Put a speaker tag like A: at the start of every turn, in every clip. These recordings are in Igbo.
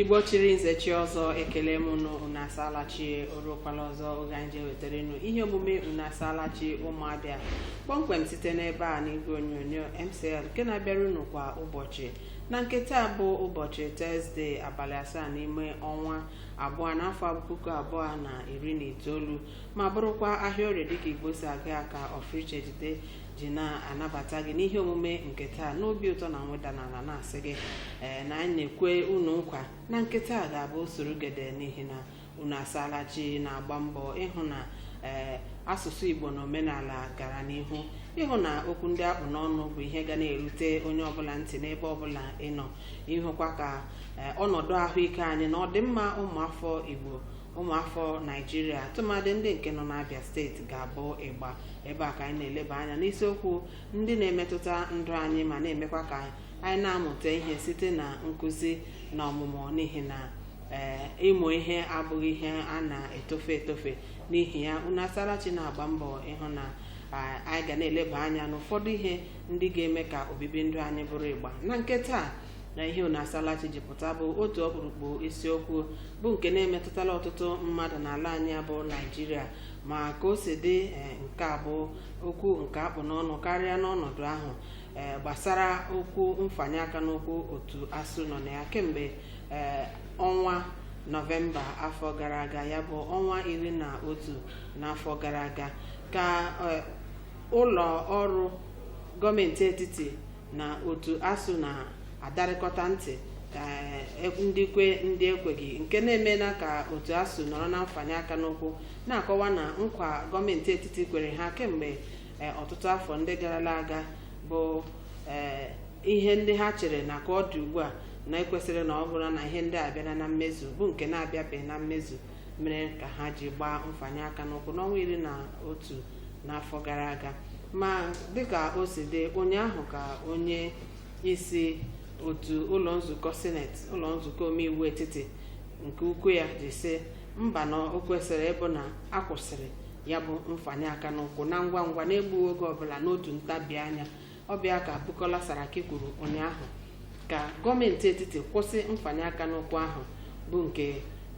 A: igbo chiri nze chie ọzọ ekelee m unu unu asaala chi o ruokwala ọzọ oge anyị ji ewetara unu ihe omume unu asaala chi ụmụ abịa kpọmkwem site n'ebe a n'igwe onyonyo mcl nke na-abịara unu kwa ụbọchị na nke taa bụ ụbọchị tọzdee abalị asaa n'ime ọnwa abụọ n'afọ puku abụọ na iri na itoolu ma bụrụkwa ahịa orie dịka igbo si aga ya ka ọfriche jide ji na-anabata gị n'ihe omume nke taa n'obi ụtọ na mweda n'ala na-asị gị ee na anyị na-ekwe unu nkwa na nke taa ga-abụ usoro gede n'ihi na unu asaala chi na-agba mbọ ịhụ na ee asụsụ igbo na omenala gara n'ihu ịhụ na okwu ndị a kpụ n'ọnụ bụ ihe ga na-erute onye ọbụla ntị n'ebe ọbụla ị nọ ịhụkwa ka eh, ọnọdụ ahụike anyị na ọdịmma ụmụafọ igbo ụmụafọ naijiria tụmadị ndị nke nọ n'abịa steeti ga-abụ ịgba ebe a ka anyị na-eleba anya n'isiokwu ndị na-emetụta ndụ anyị ma na-emekwa ka anyị na-amụta ihe site na nkụzi na ọmụmụ n'ihi na ee ịmụ ihe abụghị ihe a na-etofe etofe n'ihi ya unu asaala chi na-agba mbọ ịhụ na a- anyị ga na-eleba anya n'ụfọdụ ihe ndị ga-eme ka obibi ndụ anyị bụrụ ịgba na nke taa na ihe unu asaala chi ji pụta bụ otu ọkpụrụkpụ isiokwu bụ nke na-emetụtala ọtụtụ mmadụ n'ala anyị bụ naijiria ma ka o si dị eh, nke a bụ okwu nke a kpụ n'ọnụ karịa n'ọnọdụ ahụ eh, gbasara okwu mfanye aka n'ụkwụ otu asuu nọ na ya kemgbe eh, ọnwa nọvemba afọ gara aga ya bụ ọnwa iri na otu n'afọ gara aga ka eh, ụlọ ọrụ gọọmenti etiti na otu asuu na-adarịkọta ntị ka e- ndị kwe ndị ekweghị nke na-emela ka otu asuu nọrọ na mfanye aka n'ụkwụ na-akọwa na nkwa gọọmenti etiti kwere ha kemgbe eh, ọtụtụ afọ ndị garala aga bụ eh, ihe ndị ha chere na ka ọ dị ugbu a na e kwesịrị na ọ bụrụ na ihe ndị a bịara na mmezu bụ nke na-abịabeghị na mmezu mere ka ha ji gbaa mfanye aka n'ụkwụ n'ọnwa iri na otu n'afọ gara aga ma dịka o si dị ụnyaahụ ka onye isi otu ụlọ nzukọ sineti ụlọ nzukọ omeiwu etiti nke ukwu ya ji sị mba na o kwesịrị ịbụ na a kwụsịrị ya bụ mfanye aka n'ụkwụ na ngwa ngwa na-egbughị oge ọbụla n'otu ntabi anya Abubakar Bukola Saraki kwuru ụnyaahụ ka gọọmenti etiti kwụsị mfanye aka n'ụkwụ ahụ bụ nke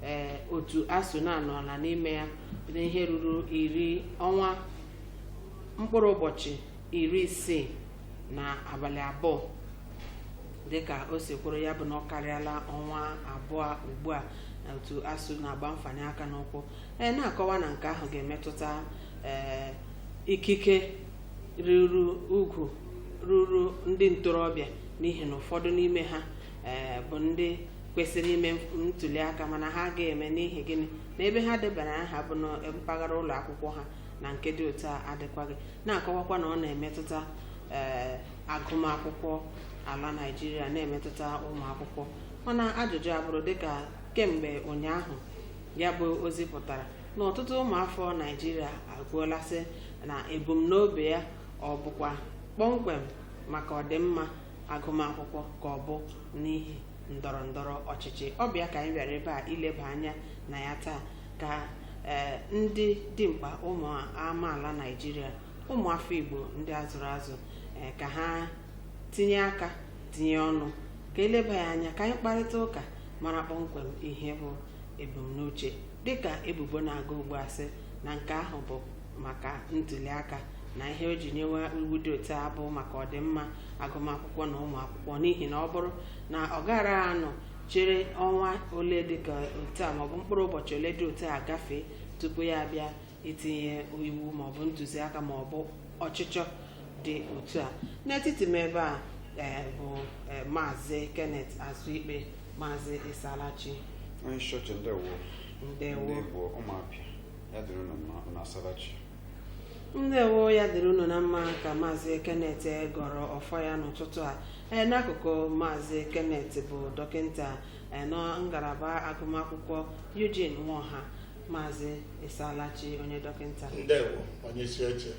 A: ee otu ASUU na-anọla n'ime ya n'ihe ruru iri ọnwa mkpụrụ ụbọchị iri isii na abalị abụọ dịka o si kwuru ya bụ na ọ karịala ọnwa abụọ ugbu a na otu ASUU na-agba mfanye aka n'ụkwụ ee na-akọwa na nke ahụ ga-emetụta ee ikike ruuru ugwu ruuru ndị ntorobịa n'ihi na ụfọdụ n'ime ha ee, bụ ndị kwesịrị ime ntuli aka mana ha agaghị eme n'ihi gịnị na ebe ha debara aha bụ na mpaghara ụlọ akwụkwọ ha na nke dị otu a adịkwaghị na-akọwakwa na ọ na-emetụta ee, agụmakwụkwọ ala Naịjirịa na-emetụta ụmụ akwụkwọ mana ajụjụ abụrụ dịka kemgbe ụnyaahụ ya bụ ozi pụtara na ọtụtụ ụmụafọ Naijiria ekwuola sị na ebumnobi ya ọ bụkwa kpọmkwem maka ọdịmma agụmakwụkwọ ka ọ bụ n'ihi ndọrọ ndọrọ ọchịchị ọ bụ ya ka anyị bịara ebe a ileba anya na ya taa ka ee ndị dimkpa ụmụ amaala Naijiria ụmụafọ Igbo ndị a zụrụ azụ ee ka ha tinye aka tinye ọnụ ka e leba ya anya ka anyị kparịta ụka mara kpọmkwem ihe bụ ebumnuche dịka ebubo na-aga ugbu a sị na nke ahụ bụ maka ntuliaka na ihe o ji nyewe iwu dị otu a bụ maka ọdịmma agụmakwụkwọ na ụmụ akwụkwọ n'ihi na ọ bụrụ na ọ gara anọ chere ọnwa ole dịka otu a maọbụ mkpụrụ ụbọchị ole dị otu a gafee tupu ya abịa itinye iwu maọbụ ntụziaka maọbụ ọchịchọ dị otu a n'etiti m ebe a eh, bụ eh, maazị Kenneth Azuikpe maazị ị saala chi onye isi
B: oche ndewo ndị ndewo Igbo
A: ụmụ
B: Abịa ya dịrị unu mma unu asaala chi
A: ndewo ya dịrị unu na mma ka maazị Kenneth gọrọ ọfọ ya n'ụtụtụ a ee n'akụkụ maazị Kenneth bụ dọkịnta eh, na ngalaba agụmakwụkwọ Eugene Nwoha maazị ị saala chi onye dọkịnta ndewo
C: onye isi oche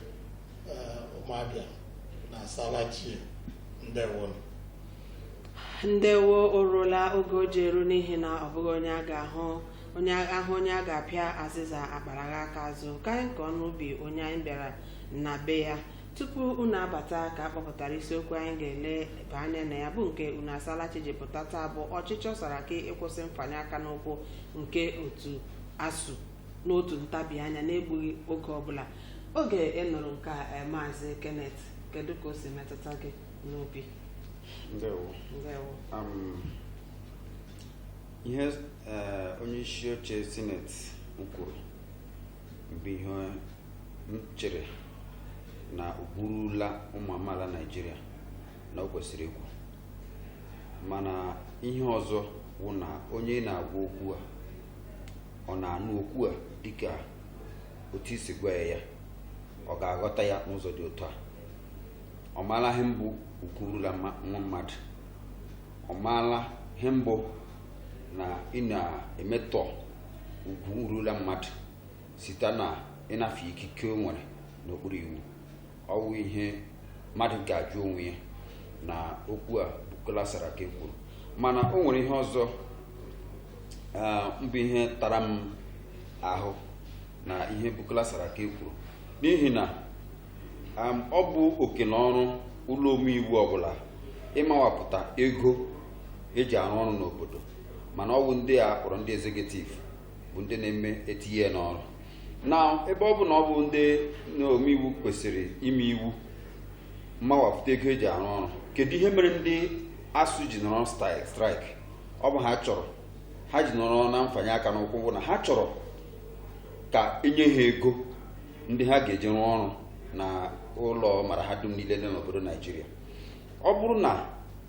C: eh, ụmụ Abịa unu asaala chi ndewo
A: ndewo o ruola oge o ji eru n'ihi na ọ bụghị onye a ga-ahụ onye ahụ onye a ga-apịa azịza akparaghị aka azụ ka anyị kọọ n'ubi onye anyị bịara na be ya tupu unu abata ka a kpọpụtara isiokwu anyị ga-eleba anya na ya bụ nke unu asaala chi ji pụta taa bụ ọchịchọ Saraki ịkwụsị mfanye aka n'ụkwụ nke otu ASUU n'otu ntabi anya na-egbughị oge ọbụla oge ị nụrụ nke a eh, maazị Kenneth kedu ka o si metụta gị n'obi
B: ndewo ndewo um, ihe eh, onye isi oche sineti kwuru bụ ihe m chere na ugwu rula ụmụ amaala naijiria na o kwesịrị ikwu mana ihe ọzọ bụ na onye ị na-agwa okwu a ọ na-anụ okwu a dịka otu i si gwa ya ọ ga-aghọta ya n'ụzọ dị otu a ọ maala ihe mbụ ugwu rula nwa mmadụ ọ maala ihe mbụ na ị na-emetọ ugwu nrula mmadụ site na ịnafụ ikike o nwere n'okpuru iwu ọ wụ ihe mmadụ ga-ajụ onwe ya na okwu a Bukola Saraki kwuru mana o nwere ihe ọzọ mbụ ihe tara m ahụ na ihe Bukola Saraki kwuru n'ihi na ọ bụ oke na ọrụ ụlọ omeiwu ọbụla ịmawapụta ego eji arụ ọrụ n'obodo mana ọ wụ ndị a kpọrọ ndị executive bụ ndị na-eme etinye n'ọrụ na ebe ọ bụ na ọ bụ ndị omeiwu kwesịrị ime iwu mmawapụta ego eji arụ ọrụ kedu ihe mere ndị ASUU ji nọrọ strike ọ bụ ha chọrọ ha ji nọrọ na mfanye aka n'ụkwụ bụ na ha chọrọ ka e nye ha ego ndị ha ga-eji rụọ ọrụ na ụlọ mara ha dum niile dị n'obodo naijiria ọ bụrụ na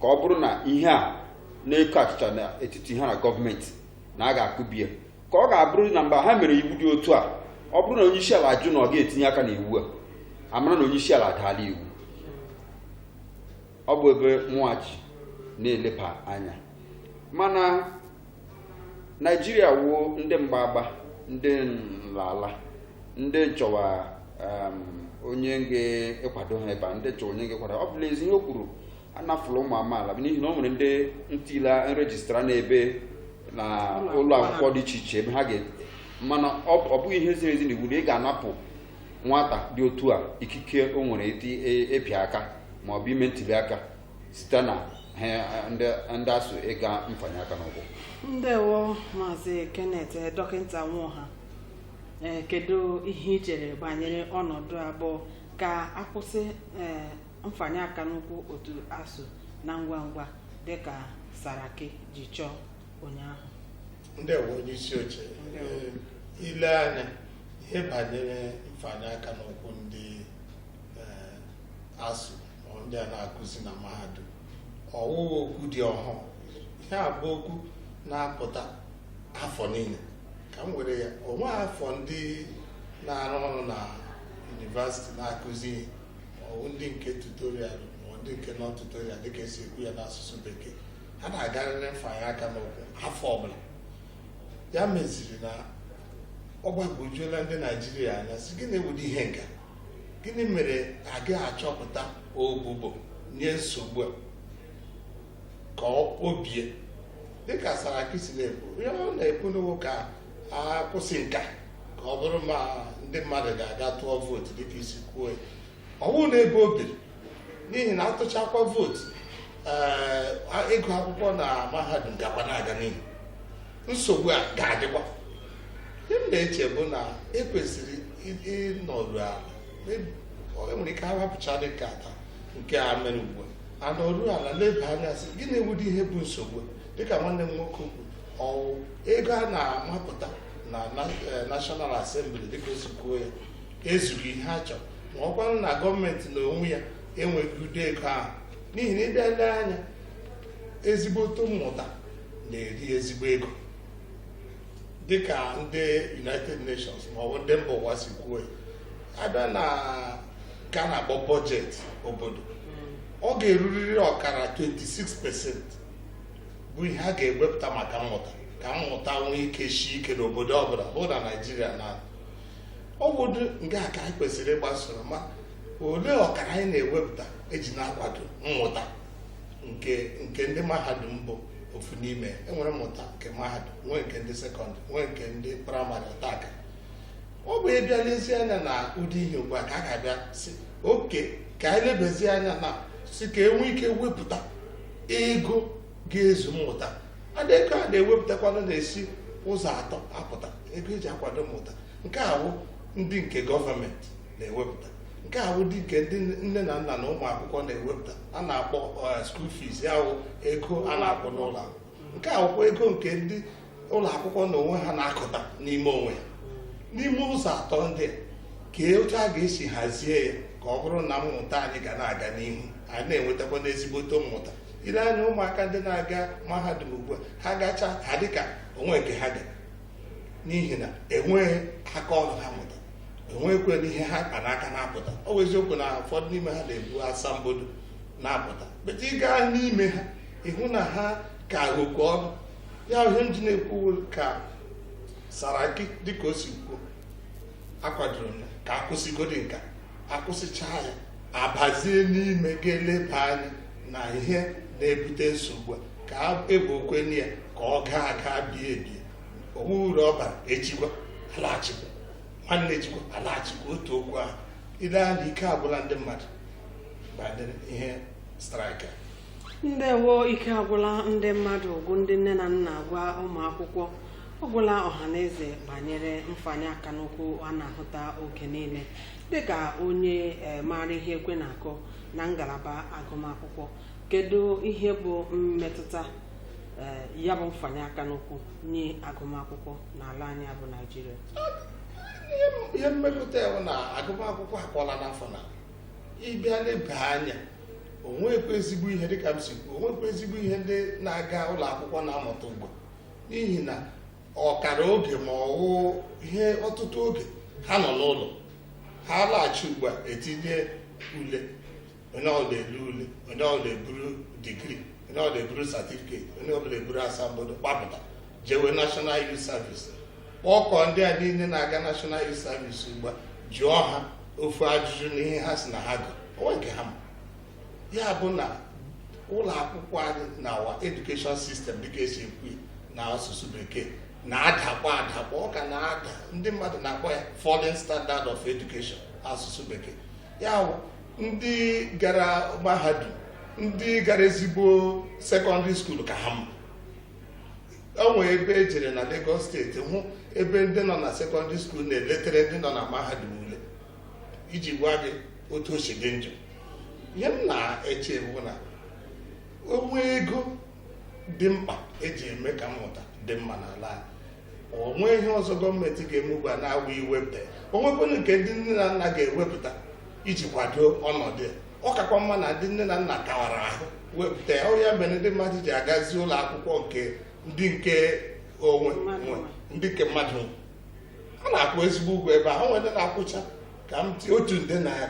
B: ka ọ bụrụ na ihe a na-eko achịcha n'etiti ha na gọọmenti na a ga-akụbi ya ka ọ ga-abụrụ na mgbe ha mere iwu dị otu a ọ bụrụ na onye isi ala ajụ na ọ ga-etinye aka n'iwu a a mara na onye isi ala adaala iwu ọ bụ ebe mụwa ji na-eleba anya mana naijiria wuo ndị mgbagba ndị nlala ndị chọwa um, onye ga-akwado ha ebe a ndị chọwa onye ga-akwado ọ bụla ezi ihe o kwuru anafụla ụmụ amaala n'ihi na o nwere ndị ntila nrejistra n'ebe na ụlọ akwụkwọ dị iche iche ebe ha ga mana ọ bụghị ihe ziri ezi na iwu na ị ga-anapụ nwata dị otu a ikike o nwere ịpịa e, aka ma ọ bụ ime ntuli aka site na ha ndị ndị ASUU ịga mfanye aka n'ụkwụ
A: ndewo maazị kenneth eh, dọkịnta nwoha ee kedu ihe i chere banyere ọnọdụ a bụ ka a kwụsị ee mfanye aka n'ụkwụ otu ASUU na ngwa ngwa dịka saraki ji chọọ ụnyaahụ
C: ndewo onye isi oche Ee, i lee anya ihe banyere mfanye aka n'ụkwụ ndị ee, ASUU ndị a na-akụzi na mahadum ọ wụghị okwu dị ọhụụ ihe a bụ okwu na-apụta afọ niile ka m were ya onwe afọ ndị na-arụ ọrụ na yunivasiti na-akụzi ihe ọwụ ndị nke tutorial ma ndị nke non-tutorial dịka esi ekwu ya n'asụsụ bekee ha na-agarịrị mfanye aka n'ụkwụ afọ ọbụla ya meziri na ọ gbagwojuola ndị naijiria anya sị gịnị wụdị ihe nka gịnị mere agaghị achọpụta ogbugbo nye nsogbu a ka o bie dịka saraki si na-ekwu ihe ọ na-ekwunu wụ ka a kwụsị nka ka ọ bụrụ ma ndị mmadụ ga-aga tụọ vootu dịka i si kwuo ya ọwụ na ebe o biri n'ihi na atụchakwa vootu ee ịgụ akwụkwọ na mahadum gakwa na-aga n'ihu nsogbu a ga-adịkwa ihe m na-eche bụ na ekwesịrị ịnọru ala enwere ike ahapụcha dịka ata nke a mere ugbu a anọru ala leba anya sị gịnị wụdị ihe bụ nsogbu dịka nwanne m nwoke kwuru ọwụ ego a na-amapụta na eh, National Assembly dịka o si kwuo ya ezughị ihe a chọrọ ma ọ kwanụ na gọọmenti na onwe ya enweghị ụdị ego ahụ n'ihi na ị bịa lee anya ezigbote mmụta na-eri ezigbo ego dịka ndị united nations maọbụ ndị mba ụwa si kwuo ya a bịa na nke a na-akpọ bọjetị obodo ọ ga-erurịrị ọkara 26 pesent bụ ihe a ga-ewepụta maka mmụta ka mmụta nwee ike shi ike n'obodo ọbụla bụ na naijiria na ọ bụdị nke a ka anyị kwesịrị ịgbasoro ma olee ọkara anyị na-ewepụta eji na-akwado mmụta nke ndị mahadum bụ ofu n'ime enwere mmụta nke mahadum nwee nke ndị sekọndịrị nwee nke ndị praịmarị ọtakara ọ bụ ịbịa lezie anya na ụdị ihe ugbu a ka a ga-abịa sị okay ka anyị lebezie anya na si ka enwee ike wepụta ego ga-ezu mmụta and ego a na-ewepụtakwanụ na-esi ụzọ atọ apụta ego eji akwado mmụta nke a bụ ndị nke gọọmenti na-ewepụta nke a bụ ndị nke ndị nne na nna na ụmụ akwụkwọ na-ewepụta a na-akpọ eh, school fees ya wụ ego a na-akwụ n'ụlọ akwụkwọ nke a wụkwa ego nke ndị ụlọ akwụkwọ na onwe ha na-akụta n'ime onwe ha n'ime ụzọ atọ ndị a, kee otu a ga-esi hazie ya ka ọ bụrụ na mmụta anyị ga na-aga n'ihu anyị na-enwetakwanụ ezigbote mmụta i lee anya ụmụaka ndị na-aga mahadum ugbu a ha gacha ha dịka o nweghị nke ha ga n'ihi na enweghị aka ọrụ ha mụta enweghịkwanụ ihe ha kpa n'aka na-apụta ọ bụ eziokwu na ụfọdụ n'ime ha na-ebu asambodo na-apụta but ị gaa n'ime ha ị hụ na ha ka oke ọnụ ya wụ ihe m ji na-ekwu ka saraki dịka o si kwuo akwadoro m ka a kwụsịgodi nka akwụsịchaa ya abazie n'ime ga-eleba anya na ihe na-ebute nsogbu a ka e gbookwanụ ya ka ọ gaa aga bie ebie onwe uru ọ bara echi kwa alaghachikwa nwanne echi kwa alaghachikwa otu okwu ahụ ị lee anya ike agwụla ndị mmadụ banyere ihe strike a ndewo
A: ike agwụla ndị mmadụ gwụ ndị nne na nna gwụ ụmụ akwụkwọ ọ gwụla ọha na eze banyere mfanye aka n'ụkwụ a na-ahụta oge niile dịka onye eh, maara ihe ekwe na-akụ na ngalaba agụmakwụkwọ kedu ihe bụ mmetụta eh, ya bụ mfanye aka n'ụkwụ nye agụmakwụkwọ n'ala anyị a bụ naijiria
C: Ihe- ihe mmetụta ya bụ na agụmakwụkwọ akpọọla afọ n'ala ị bịa leba anya onwekwa ezigbo ihe dịka m si kwuo onwekwa ezigbo ihe ndị na-aga ụlọ akwụkwọ na-amụta ugbu n'ihi na ọkara oge ma ọwụ ihe ọtụtụ oge ha nọ n'ụlọ ha laghachi ugbu a etinye ule onye ọbụla elee ule onye ọbụla eburu degree onye ọbụla eburu certificate onye ọbụla eburu asambodo gbapụta jewe National Youth Service kpọkọ ndị a niile na-aga National Youth Service ugbu a jụọ ha ofu ajụjụ na ihe ha sị na ha gụrụ onwe nke ha ma ya bụ na ụlọ akwụkwọ anyị na our education system dịka e si ekwu ya na asụsụ bekee na-adakwa adakwa ọ ka na-ada ndị mmadụ na-akpọ ya falling standard of education asụsụ bekee ya bụ ndị gara mahadum ndị gara ezigbo secondary school ka ha mma o nwee ebe e jere na Lagos State hụ ebe ndị nọ na secondary school na-eletere ndị nọ na mahadum ule iji gwa gị otu o si dị njọ ihe m na-eche bụ na o nwe ego dị mkpa eji eme ka mmụta dị mma n'ala anyị onwe ihe ọzọ gọọmenti ga-eme ugbu a na-awụ iwepụta ya o nwekwanụ nke ndị nne na nna ga-ewepụta iji kwado ọnọdụ ya ọ kakwa mma na ndị nne na nna kawara ahụ wepụta ya ọ wụ ya mere ndị mmadụ ji agazi ụlọ akwụkwọ nke ndị nke onwe nwe ndị nke mmadụ nwe. a na-akwụ ezigbo ụgwọ ebe ahụ nwere ndị na-akwụcha ka m tie otu nde naira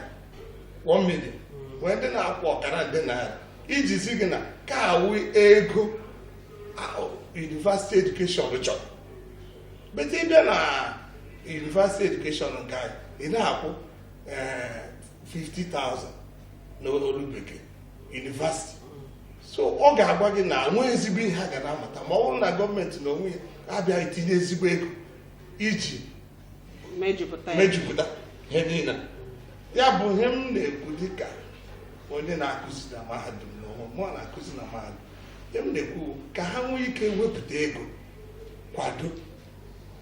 C: 1 million nwee ndị na-akwụ ọkara nde naira iji zi gị na ka awụ ego university education chọrọ but ị bịa na university education nke anyị ị na-akwụ 50,000 eh, n'olu bekee university so ọ ga-agwa gị na nwee ezigbo ihe ha ga na-amụta ma ọ bụrụ na gọọmenti na onwe ya abịaghị tinye ezigbo ego iji mejupụta ihe niile ya bụ ihe m na-ekwu dịka onye na-akụzi na mahadum na onwe mụ na-akụzi na mahadum ihe m na-ekwu ka ha nwee ike wepụta ego kwado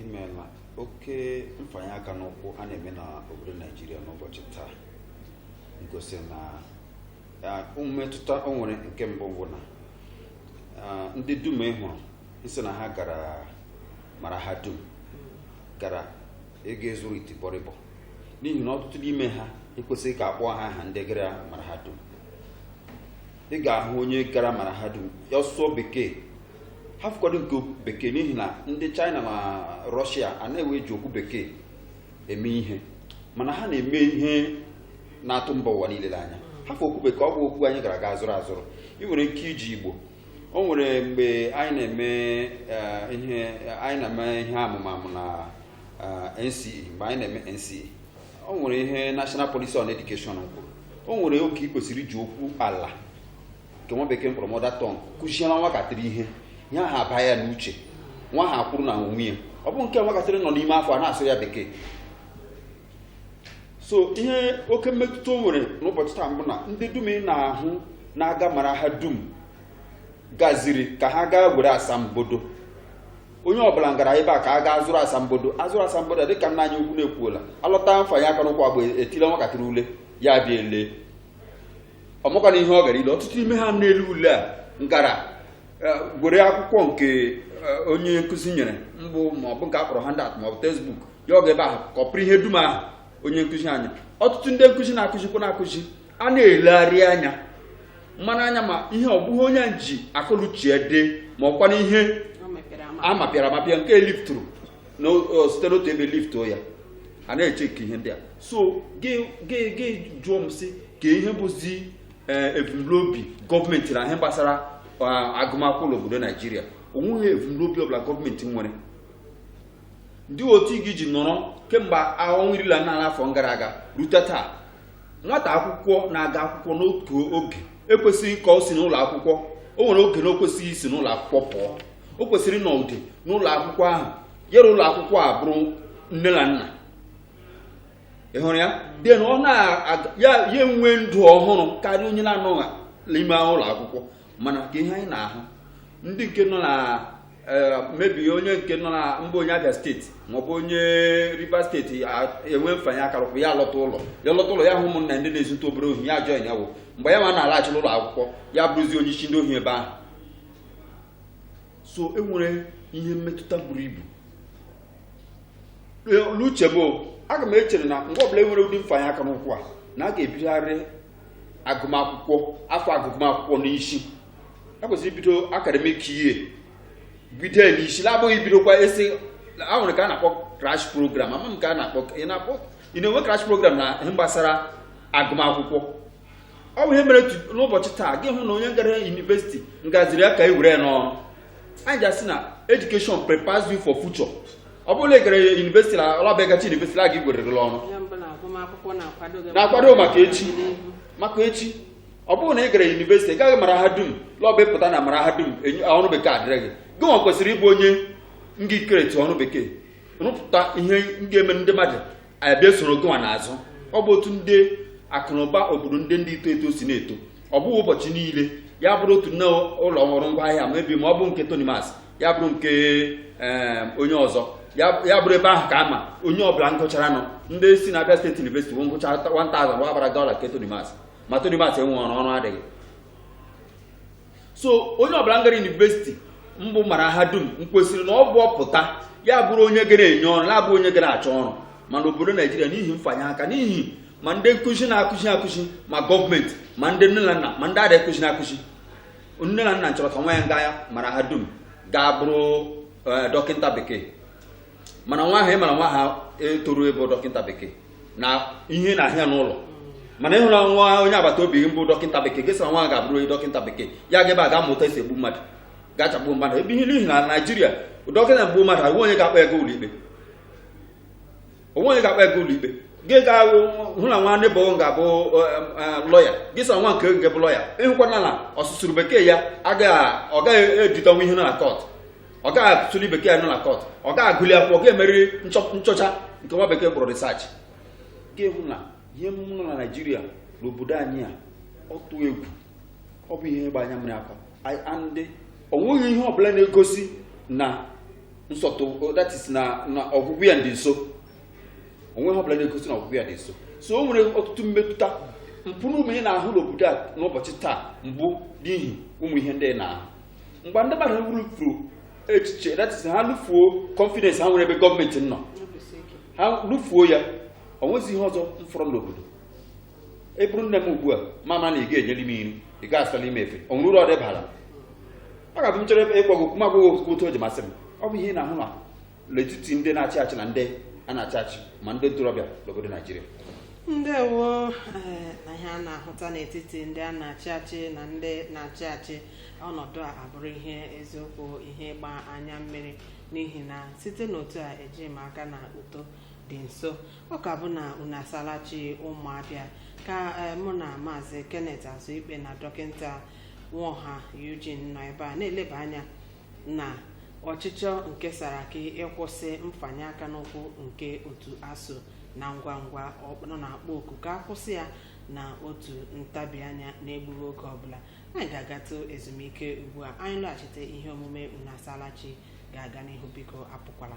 B: imeela oke mfanye aka n'ụkwụ a na-eme na obodo naijiria n'ụbọchị taa ngosi na ah, mmetụta o nwere nke mbụ bụ na ah, ndị dum ị hụrụ sị na ha gara mara ha dum gara ịga ịzụrụ itibọrịbọ n'ihi na ọtụtụ n'ime ha ekwesịghị ka a kpọọ ha aha ndị gara mara ha dum ị ga-ahụ onye gara mara ha dum ya sụọ bekee hafụkwadụ nke okwu bekee n'ihi na ndị China na Russia anaghị eji okwu bekee eme ihe mana ha na-eme ihe na-atụ mba ụwa niile n'anya hafụ okwu bekee ọ bụ okwu anyị gara gaa zụrụ azụrụ ị nwere ike iji Igbo o nwere mgbe anyị na-eme eh, ihe anyị na-eme ihe amụmamụ na eh, NCE mgbe anyị na-eme NCE o nwere ihe National Policy on Education kwuru o nwere oke ị kwesịrị iji okwu ala nke nwa bekee mkpọrọ mother tongue kụziere nwatakịrị ihe ihe ahụ aba ya n'uche nwa ahụ akwụrụ na onwe ya ọ bụ nke nwatakịrị nọ n'ime afọ a na-asụrụ ya bekee so ihe oke mmetụta o nwere n'ụbọchị taa mbụ na ndị dum ị na-ahụ na-aga mara ha dum gaziri ka ha gaa were asambodo onye ọbụla ngara ebe a ka a gaa zụrụ asambodo azụrụ asambodo dị ka nna anyị ukwu na-ekwuola alọta mfanye aka n'ụkwụ agba etile nwatakịrị ule ya bịa ele ọ makwanụ ihe ọ gara ile ọtụtụ ime ha na-ele ule a ngara e, gwere akwụkwọ nke e, onye nkụzi nyere mbụ ma ọ bụ nke a kpọrọ handout ma ọ bụ textbook ya aga ebe ahụ kọpụrụ ihe dum ahụ onye nkụzi anyị ọtụtụ ndị nkụzi na-akụzikwanụ akụzi a na-elegharị anya mmanụ anya ma ihe ọ bụ ihe onye ji akọ l'uche dee ma ọ kwanụ ihe a mapịara amapịa nke lifturu site n'otu ebe liftuo ya a na-echeki ihe ndị a so gị jụọ m sị kee ihe bụzi eh, ebumnobi gọọmenti na ihe gbasara ah, agụmakwụkwọ n'obodo naijiria onweghị ebumnobi ọbụla gọọmenti nwere ndị otu gị ji nọrọ kemgbe ọnwa iri la na afọ gara aga rute taa nwata akwụkwọ na-aga akwụkwọ n'otu oge ekwesịghị ka o si n'ụlọ akwụkwọ o nwere oge na o kwesịghị isi n'ụlọ akwụkwọ pụọ o kwesịrị ịnọgide n'ụlọ akwụkwọ ahụ yere ụlọ akwụkwọ abụrụ nne na nna ọhụrụ ya den ọ na-aga ya ya enwee ndụ ọhụrụ karịa onye na-anọghị n'ime ụlọ akwụkwọ mana ka ihe anyị na-ahụ ndị nke nọ na eh, maybe onye nke nọ na mba onye abịa steeti maọbụ onye rivers steeti e nwee mfanye aka n'ụkwụ ya lọta ụlọ ya lọta ụlọ ya hụ ụmụnna ndị na-ezutụ obere ohi ya join ya wụ mgbe ya ma na-alaghachi n'ụlọ akwụkwọ ya bụrụzi onye isi ndị ohi ebe ahụ so e nwere ihe mmetụta buru ibu n'uche m aga m echere na mgbe ọbụla e nwere ụdị mfanye aka n'ụkwụ a na a ga-ebigharị agụmakwụkwọ afọ agụmakwụkwọ n'isi a kwesịrị ibido academic year bido ya n'isi na-abụghị ibidokwa esi a nwere nke a na-akpọ crash program ama m ka a na-akpọ ị na-akpọ ị na-enwe crash program na ihe gbasara agụmakwụkwọ ọ bụ ihe mere tu- n'ụbọchị taa gị hụ na onye gara yunivesiti ngaziri ya ka e were ya n'ọrụ anyị ji asị na education prepares you for future ọ bụrụ na ị gara yunivesiti na ọ bụ ị gachaa yunivesiti a gị gwererela ọrụ na-akwado maka echi maka echi ọ bụrụ na ị gara yunivesiti ị gara mara ha dum na ọ bụ ị pụta na mara ha dum ọrụ bekee adịghị gị nwa kwesịrị ịbụ onye nga-ecreate ọrụ bekee rụpụta ihe nga-eme ndị mmadụ abịa soro gị nwa n'azụ ọ bụ otu ndị akụnụba obodo ndị ndị ito eto si na-eto ọ bụghị ụbọchị niile ya bụrụ otu nne ụlọ ọrụ ngwa ahịa mebi ma ọ bụ nke Tonimas ya bụrụ nke eh, onye ọzọ ya bụrụ ebe ahụ ka ama onye ọbụla ngụchara nọ ndị si na Abia State University wụ ngụcha 1000 wa gbara dọla nke Tonimas ma Tonimas enwe ọrụ ọrụ adịghị so onye ọbụla ngara yunivesiti mbụ mara ha dum nkwesịrị na ọ bụ ọ pụta ya bụrụ onye gara enye ọrụ ya abụ onye gara achọ ọrụ mana obodo naijiria n'ihi mfanye aka n'ihi ma ndị nkụzi na-akụzi akụzi ma gọọmenti ma ndị nne na nna ma ndị a na-akụzi na-akụzi nne na nna chọrọ ka nwa ya nga ya mara ha dum gaa bụrụ eh, dọkịta bekee mana nwa ahụ ị mara nwa ahụ etoru ịbụ dọkịta bekee na ihe na ahịa n'ụlọ mana ịhụrụ nwa onye agbata obi mbụ dọkịta bekee gị sị nwa ga-abụrụ dọkịta bekee ya ga ebe a ga-amụta esi egbu mmadụ ga-achagbu mmadụ ebe ihe n'ihi na naijiria dọkịta gbuo mmadụ o nwe onye ga-akpọ ya ga ụlọikpe o nwe onye ga-akpọ ya ga ụlọikpe gị ga-ahụ hụ na nwa neighbour ga-abụ lọya gị sị nwa nke nke bụ lọya ịhụkwana na ọsụsụrụ bekee ya agaghị ọ gaghị edetanwu ihe nọ na kọt ọ gaghị asụli bekee ya nọ na kọt ọ gaghị agụli akwụkwọ ga emeli nchọ- nchọcha nke nwa bekee kpọrọ research gị hụ na ihe nọ na naijiria n'obodo anyị a ọ tụ egwu ọ bụ ihe ịgba anya mmiri akwa and o nweghị ihe ọbụla na-egosi na nsọtụ that is na na ọgwụgwụ ya dị nso o nwe ihe ọbụla na-egosi na ọgwụgwụ ya dị nso so o nwere ọtụtụ mmetụta mpụ na ụmụ ihe ị na-ahụ n'obodo a n'ụbọchị taa mbụ n'ihi ụmụ ihe ndị ị na-ahụ mgbe ndị mmadụ rufuru echiche that is ha lụfuo confidence ha nwere ebe gọọmenti nọ ha lụfuo ya ọ nwezighị ihe ọzọ mfọrọ n'obodo ị bụrụ nne m ugbu a m ama na ị ga-enyeli m nri ị ga-asali m efe ọ nwere uru ọ baara m ọ ga-abụ m chọrọ ịgwa gị m agwa gị okwu otu o ji masị m ọ bụ ihe ị na-ahụ na n'etiti ndị na-achị achị na ndị a na-achị achị ma ndị ntorobịa n'obodo naijiria
A: ndewo eh, na ihe a na-ahụta n'etiti ndị a na-achị achị na ndị na-achị achị ọnọdụ a abụrụ ihe eziokwu ihe ịgba anya mmiri n'ihi na site n'otu a eji m aka na uto dị nso ọ ka bụ na unu asaala chi ụmụ abịa ka eh, mụ na maazị kenneth azụikpe na dọkịta nwoha eugene nọ ebe a na-eleba anya na ọchịchọ nke saraki ịkwụsị mfanye aka n'ụkwụ nke otu asuu na ngwa ngwa ọ nọ na-akpọ oku ka akwụsị ya na otu ntabi anya n'egbughị oge ọbụla anyị ga-agatụ ezumike ugbu a anyị lọghachite ihe omume unu asaala chi ga-aga n'ihu biko apụkwala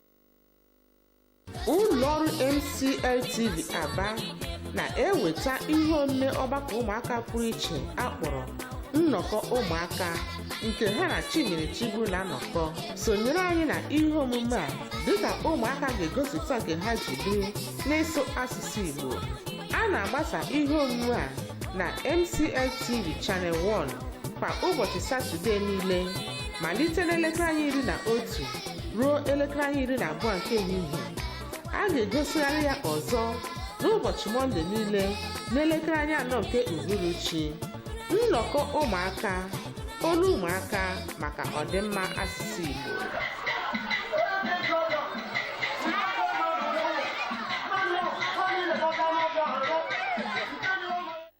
D: ụlọọrụ MCLTV Aba na-eweta ihe omume ọgbakọ ụmụaka pụrụ iche akpọrọ nnọkọ ụmụaka nke ha na Chimere Chigbu na-anọkọ sonyere anyị na ihe omume a dịka ụmụaka ga-egosipụta nke ha ji biri n'ịsụ asụsụ Igbo a na-agbasa ihe omume a na MCLTV Channel 1 kwa ụbọchị Satọde niile malite n'elekere anya iri na otu ruo elekere anya iri na abụọ nke ehihie a ga-egosigharị ya ọzọ n'ụbọchị mọnde niile n'elekere anya anọ nke uhuruchi nnọkọ ụmụaka olu ụmụaka maka ọdịmma asụsụ igbo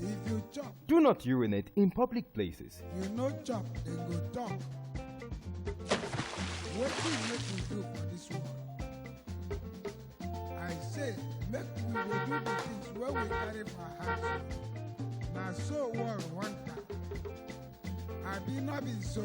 E: If you chop, Do not urinate
F: in public places. you no chop,
E: then go talk. Wetin make we do for this world? I say make we dey do the things wey we carry for heart. Na so world want am. Abi no be so?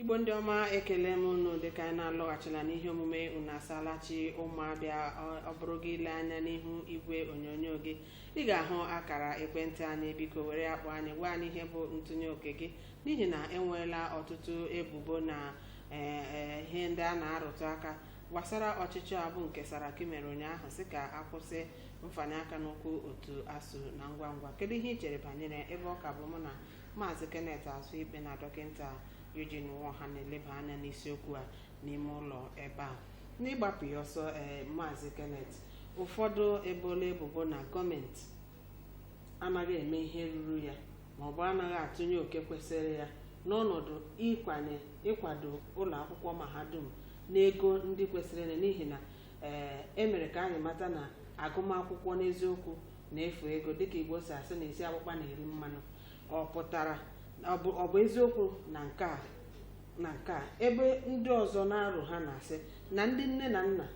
A: igbo ndị ọma ekele m unu dịka anyị na-alọghachila n'ihe omume unu asaala chi ụmụ abịa ọ- ọ bụrụ gị ile anya n'ihu igwe onyonyo gị ị ga-ahụ akara ekwentị anyị biko were ya kpọọ anyị gwa anyị ihe bụ ntụnye oke gị n'ihi na enweela ọtụtụ ebubo na eh, eh, ihe ndị a na-arụtụ aka gbasara ọchịchọ a bụ nke saraki mere ụnyaahụ sị ka akwụsị mfanye aka n'ụkwụ otu asuu na ngwa ngwa kedu ihe i chere banyere ebe ọ ka bụ mụ na maazị kenneth azụikpe na dọkịta Eugene Nwoha na-eleba anya n'isiokwu a n'ime ụlọ ebe a n'ịgbapụ ya ọsọ ee maazị kenneth ụfọdụ eboola ebubo na gọọmenti anaghị eme ihe ruru ya ma ọ bụ anaghị atụnye oke kwesịrị ya n'ọnọdụ ịkwanye ịkwado ụlọ akwụkwọ mahadum n'ego ndị kwesịrị ya n'ihi na ee emere ka anyị mata na agụmakwụkwọ n'eziokwu na-efu ego dịka igbo si asị na isi akpụkpa na-eri mmanụ ọ pụtara ọ bụ ọ bụ eziokwu na nke a na nke a ebe ndị ọzọ na-arụ ha na-asị na ndị nne na nna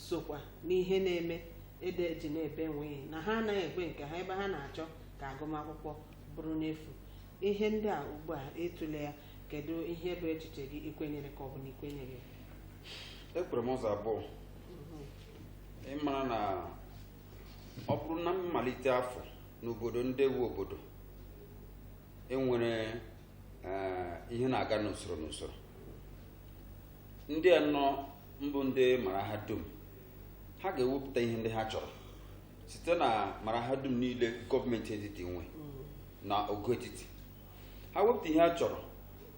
A: sokwa n'ihe na-eme ede eji na-ebe nwee na ha anaghị ekwe nke ha ebe ha na-achọ ka agụmakwụkwọ bụrụ n'efu ihe ndị a ugbu a ị tụle ya kedu ihe bụ echiche gị i kwenyere ka ọ bụ na i
B: kwenyeghị ekwere m ụzọ abụọ ị mara na ọ bụrụ na mmalite afọ n'obodo ndị wu obodo e nwere eh, ihe na-aga n'usoro n'usoro ndị a nọ mbụ ndị mara ha dum ha ga-ewepụta ihe ndị ha chọrọ site na mara ha dum niile gọọmenti etiti nwe na ogo etiti ha wepụta ihe ha chọrọ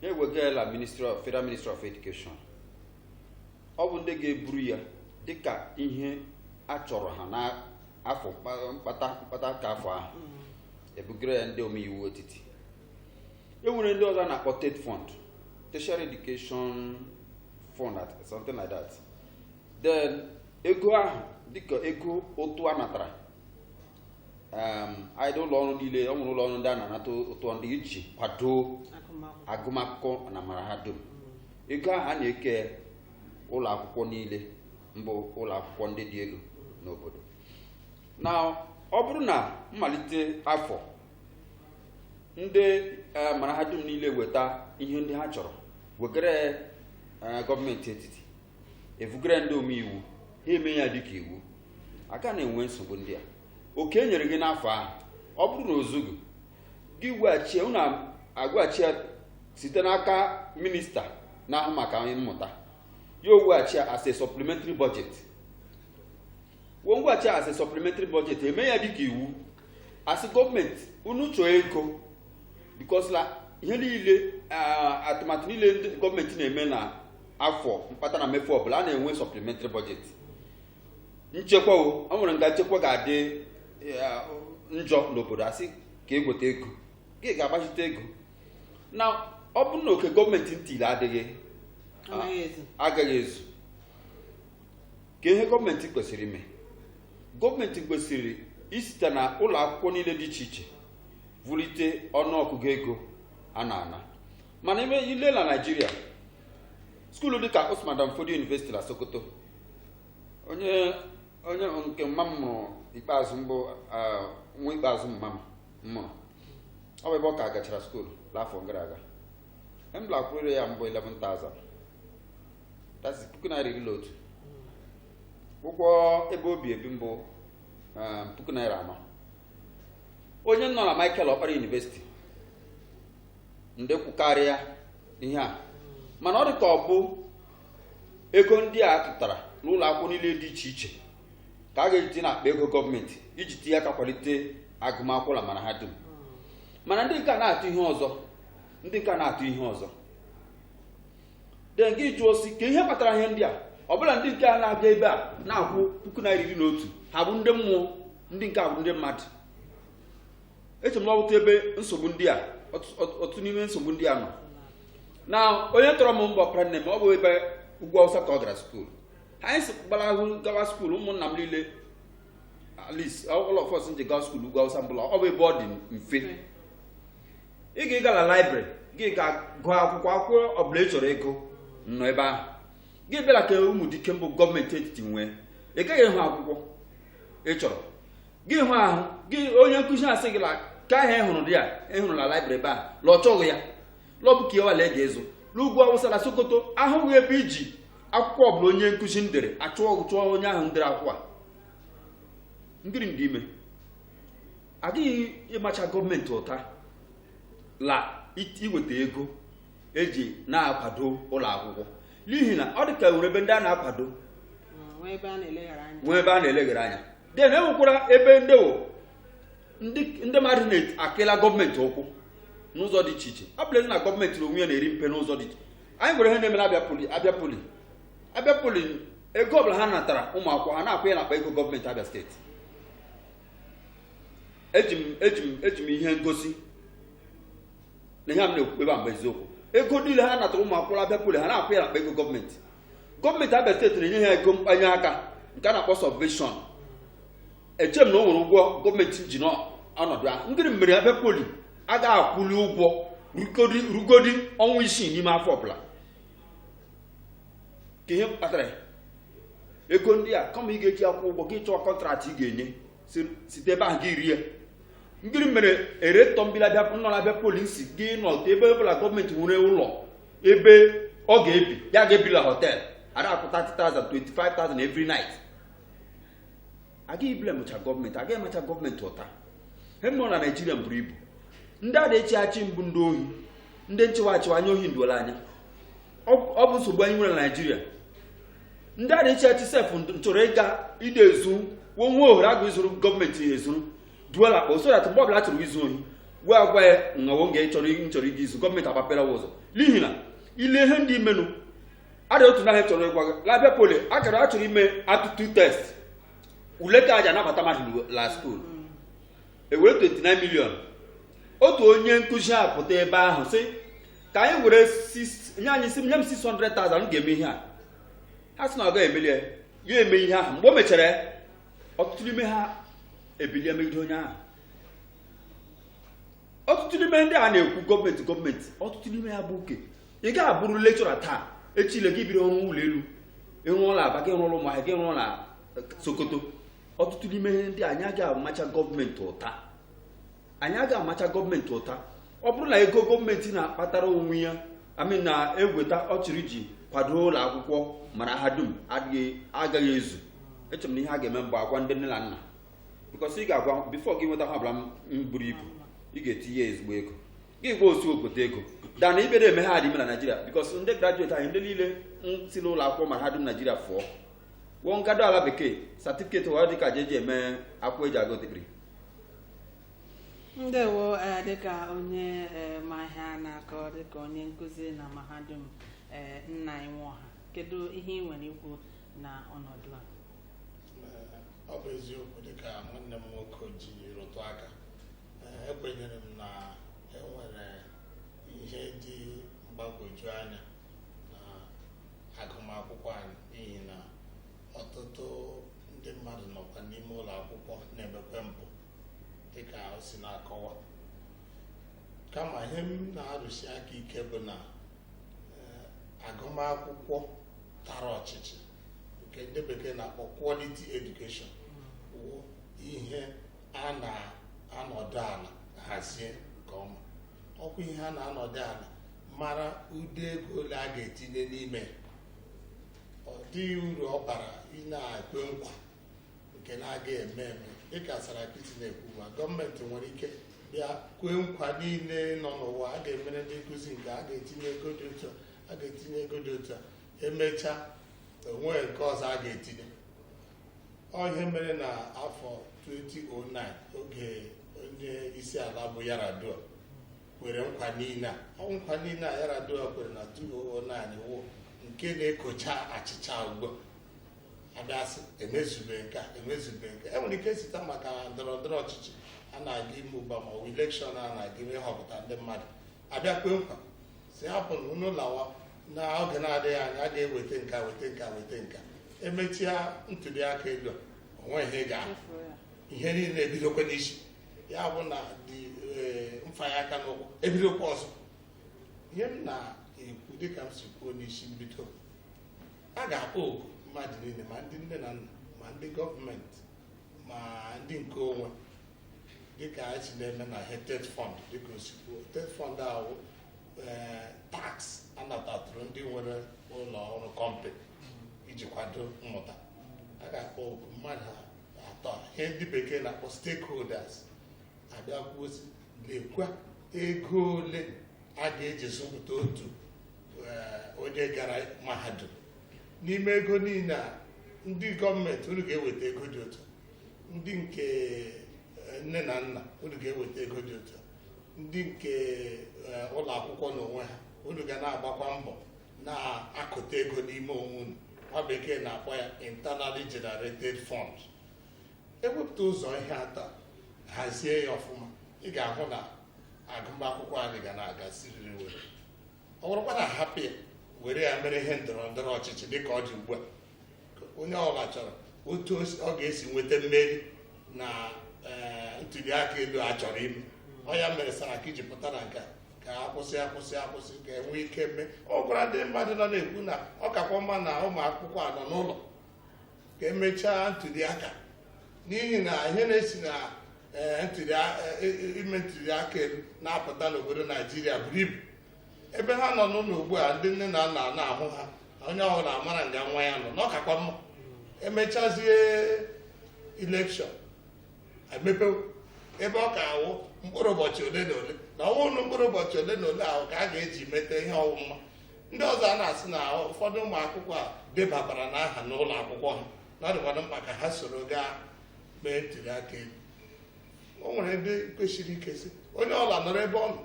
B: ha ewegala federal ministry of education ọ bụ ndị ga-eburu ya dịka ihe a chọrọ ha n'afọ mkpa- mkpata mkpata ka afọ ahụ e bugara ya ndị omeiwu etiti e nwere ndị ọzọ a na-akpọ TETFund tertiary education fund something like that then ego ahụ dịka ego ụtụ a natara um, ndị ụlọ ọrụ niile ọ nwere ụlọ ọrụ ndị a na-anata ụtụ ndị iji kwado agụmakwụkwọ na mara ha dum ego ahụ a na-eke ụlọ akwụkwọ niile mbụ ụlọ akwụkwọ ndị dị elu n'obodo na ọ bụrụ na mmalite afọ ndị eh, mara ha dum niile weta ihe ndị ha chọrọ wegara eh, gọọmenti etiti e vugara ndị omeiwu ha eme ya dịka iwu a ka na-enwe nsogbu ndị a oke e nyere gị n'afọ ahụ ọ bụrụ na o zugu gị weghachi unu egweghachi ya site n'aka minista na-ahụ maka mmụta ya egweghachi ya as a supplementary budget wo egweghachi ya as a supplementary budget eme ya dịka iwu a sị gọọmenti unu chọọ ego because la ihe niile atụmatụ niile ndị gọọmenti na-eme na afọ mkpata na mmefu ọbụla a na-enwe supplementary budget nchekwa o ọ nwere nga nchekwa ga-adị eh, njọ n'obodo a sị ka e gweta ego gị ga-agbachite ego na ọ bụrụ na oke gọọmenti ntili adịghị agaghị ezu ka ihe gọọmenti kwesịrị ime gọọmenti kwesịrị isite na ụlọ akwụkwọ niile dị iche iche vulite ọnụọgụgụ ego a na-ana mana ime ile na Naịjirịa skuulu dịka Usman Dan Fodio University na Sokoto onye onye nke mma m mụrụ ikpeazụ mbụ ah, nwa ikpeazụ mma m mụrụ ọ bụ ebe ọ ka gachara skuulu n'afọ gara aga ihe m la-akwụrụ ya mbụ 11,000 that's puku naira iri na otu ụgwọ ebe obi ebi mbụ ah, puku naira anọ onye nọ na Michael Okpara University ndị kwukarịa ihe a mana ọ dị ka ọ bụ ego ndị a tụtara n'ụlọ akwụkwọ niile dị iche iche ka a ga-eji n'akpa ego gọọmenti iji tinye aka kwalite agụmakwụkwọ na mahadum mana ndị nke a na-atụ ihe ọzọ ndị nke a na-atụ ihe ọzọ den gị jụọ sị kee ihe kpatara ihe ndị a ọ bụ la ndị nke a na-abịa ebe a na-akwụ puku naira iri na otu ha bụ ndị mmụọ ndị nke a bụ ndị mmadụ eche m na ọ bụ otu ebe nsogbu ndị a otu n'ime nsogbu ndị a nọ na onye tọrọ m mbụ ọpara nne m ọ bụ ebe ugwu awụsa ka ọ gara skuul anyị si gbara ahụ gawa skuul ụmụnna m niile at least all of us nje gawa skuul ugwu awụsa mbụla ọ bụ ebe ọ dị mfe ị ga ịga la laibrị gị ga gụọ akwụkwọ akwụkwọ ọbụla ị chọrọ ịgụ nọ ebe ahụ gị bịa la ka umudike mbụ gọọmenti etiti nwe ị gaghị ịhụ akwụkwọ ị chọrọ gị hụ ahụ gị onye nkụzi asị gị ke ahụ ị hụrụ dị ya ị hụrụ na laibrị ebe a la ọ chọghị ya la ọ bụ ke nwa la ị ga ịzụ n'ugwu awụsa na sokoto ahụghị ebe iji akwụkwọ ọbụla onye nkụzi ndere achụọ chụọ onye ahụ ndere akwụkwọ a ngiri ndị ime agaghị ịmacha gọọmenti ụta la iweta ego eji na-akwado ụlọ akwụkwọ n'ihi na ọ dị ka e nwere ebe ndị a na-akwado nwee ebe a na-eleghara anya nwee ebe a na-eleghara anya den e nwekwara ebe ndị wụ ndị ndị mmadụ na-akịla gọọmenti ụkwụ n'ụzọ dị iche iche ọ bụ la ezi na gọọmenti n'onwe ya na-eri mpe n'ụzọ dị iche anyị nwere ihe na-eme na abịa poli abịa poli abịa poli ego ọbụla ha natara ụmụ akwụkwọ ha na-akwụ ya n'akpa ego gọọmenti abịa steeti eji m eji m eji m ihe ngosi na ihe a m na-ekwu ebe a mbụ eziokwu ego niile ha natara ụmụ akwụkwọ abịa poli ha na-akwụ ya n'akpa ego gọọmenti gọọmenti abịa steeti na-enye ha ego mkpanye aka nke a na-akpọ sọbveshọn eche m na o nwere ụgwọ gọọmenti ji n'ọnọdụ ahụ ngiri mere abịa poli agaghị akwụli ụgwọ rugodi ọnwa isii n'ime afọ ọbụla kee ihe kpatara ego ndị a kama ị ga-eji akwụ ụgwọ gị chọọ kọntraktị ị ga-enye site ebe ahụ gị rie ngiri mere rektọ mbụla nọ na abịa poli si gị nọta ebe ọ bụ la gọọmenti nwere ụlọ ebe ọ ga-ebi ya ga-ebi la họtel a na-akwụ 30,000 25,000 every night agaghị iblemụcha gọọmenti agaghị ịmacha gọọmenti ụta he nọ na naijiria buru ibu ndị a na-echi achị mbụ ndị ohi ndị nchịwa achịwa anya ohi nduola anya ọ bụ nsogbu anyị nwere na naijiria ndị a na-achị achị sef chọrọ ịga ide ezu wee nwee ohere agụ izuru gọọmenti ezuru duola akpa so that mgbe ọbụla chọrọ izu ohi wee agwa ya nwawo nga chọrọ nchọrọ ịga izu gọọmenti agbapere wa ụzọ n'ihi na ile ihe ndị imenụ ada otu naghị chọrọ ịgwa gị la Abia Poly a chọrọ a chọrọ ime aptitude test ule ka aja anabata mmadụ la skuul ewere 29 million otu onye nkụzi apụta ebe ahụ sị ka anyị were nye anyị isi nye m 600,000 m ga-eme ihe a ha sị na ọ gaghị emeli ya ya eme ihe ahụ mgbe o mechara ọtụtụ n'ime ha ebilie megide onye ahụ ọtụtụ n'ime ndị a na-ekwu gọọmenti gọọmenti ọtụtụ n'ime ha bụ uke ị ga-abụrụ lecturer taa echi ile gị biri ọrụ ụlọ elu ị rụọ la Aba gị rụọ Ụmụahịa gị rụọ na Sokoto ọtụtụ n'ime ndị anyị agaghị amacha gọọmenti ụta anyị agaghị amacha gọọmenti ụta ọ bụrụ na ego gọọmenti na-akpatara onwe ya I mean na-egweta ọ chịrị iji kwado ụlọ akwụkwọ mara ha dum agaghị ezu eche m na ihe a ga-eme mgbe agwa ndị nne na nna because ị ga-agwa before gị nweta ihe ọbụla mburu ibu ị ga-etinye ezigbo ego gị gwa otu obodo ego dana ibe na-eme ha adịme na naijiria because ndị graduate anyị ndị niile nsi n'ụlọ akwụkwọ mara ha dum naijiria fụọ wo ngado ala bekee certificate wa dịka je eji eme akwụkwọ eji agụ
A: digiri ndewo ee dịka onye ee ma ihe a na-akọ dịka onye nkụzi na mahadum ee nna anyị Nwaọha kedu ihe ị nwere ikwu na ọnọdụ
C: a ọ bụ eziokwu dịka nwanne m nwoke ji rụtụ aka Ee, ekwenyere m na enwere ihe dị mgbagwoju anya agụmakwụkwọ anyị n'ihi na ọtụtụ ndị mmadụ nọkwa n'ime ụlọ akwụkwọ na-emekwe mpụ dịka o si na-akọwa kama ihe m na-arụsi aka ike bụ na eh, agụmakwụkwọ tara ọchịchị nke ndị bekee na-akpọ quality education wụ ihe a na-anọdụ ala hazie nke ọma ọkwa ihe a na-anọdụ ala mara ụdị ego ole a ga-etinye n'ime ọ dịghị uru ọ bara ị na-ekwe nkwa nke na-aga eme eme dịka Sarakiti na-ekwu ma gọọmenti nwere ike bịa kwee nkwa niile nọ n'ụwa a ga-emere ndị nkụzi nke a ga-etinye ego dị otu a ga-etinye ego dị otu a emechaa o nwe nke ọ sọ a ga-etinye ọ ihe mere na afọ 2009 oge onye isi ala bụ Yar'Adua kwere nkwa niile a ọ wụ nkwa niile a Yar'Adua kwere na 2009 wụ nke na-ekocha achịcha ugbu a a bịa sị emezube nke a emezube nke a. enwere ike site maka ndọrọ ndọrọ ọchịchị a na-aga ime ugbu a ma ọ bụ elekshọn a na-aga ime ịhọpụta ndị mmadụ a bịa kwe nkwa sị hapụ na unu lawa na oge na-adịghị anya a ga-eweta nke a weta nke a weta nke a emechia ntuli aka elu a, o nweghị ihe ị ga-ahụ ihe niile ebidokwa n'isi ya bụ na dị eh, mfanye aka n'ụkwụ ebidokwa ọzọ ihe m na-ekwu dịka m si kwuo n'isi mbido a ga-akpọ oku mmadụ niile ma ndị nne na nna ma ndị gọọmenti ma ndị nke onwe dịka anyị si na-eme na eh, TETFund dịka o si kwuo TETFund a wụ eh, tax a natatụrụ ndị nwere ụlọ ọrụ kọmpanị iji kwado mmụta a ga-akpọ oku mmadụ ha atọ ihe ndị bekee na-akpọ stakeholders a bịa kwuo sị lekwa ego ole a ga-eji zụpụta otu eh, onye gara mahadum n'ime ego niile a ndị gọọmenti unu ga-eweta ego dị otu a. ndị nke eh, nne na nna unu ga-eweta ego dị otu a. ndị nke eh, ụlọ akwụkwọ n'onwe ha unu ga na-agbakwa mbọ na-akụta ego n'ime onwe unu nwa bekee na-akpọ ya internally generated fund ewepụta ụzọ ihe atọ hazie ya ọfụma ị ga-ahụ na agụmakwụkwọ anyị ga na-aga siriri were ọ bụrụkwa na a hapụ ya were ya mere ihe ndọrọ ndọrọ ọchịchị dịka ọ dị ugbu a onye ọbụla chọrọ otu ọ ga-esi nweta mmeri na eh, ntuli aka elu a chọrọ ime ọ ya mere Saraki ji pụta na nke a ka a kwụsị a kwụsị a kwụsị ka enwee ike mee ọkara ndị mmadụ nọ na-ekwu na ọ kakwa mma na ụmụ akwụkwọ a nọ n'ụlọ ka emechaa ntuli aka n'ihi na ihe na-esi na eh, eh, ime ntuli aka elu na-apụta n'obodo Naijiria buru ibu ebe ha nọ n'ụlọ ugbu a ndị nne na nna na-ahụ ha onye ọbụla amara nga nwa ya nọ na ọ kakwa mma emechazie elekshọn emepe ebe ọ ka awụ mkpụrụ ụbọchị ole na ole na ọ wụghị mkpụrụ ụbọchị ole na ole ahụ ka a ga-eji mete ihe ọ wụ ma ndị ọzọ a na-asị na ụfọdụ ụmụ akwụkwọ a debabarana aha n'ụlọ akwụkwọ ha na ọ dịkwanụ mkpa ka ha soro gaa mee ntuli aka elu o nwere ndị kwusiri ike sị onye ọla nọrọ ebe ọ nọ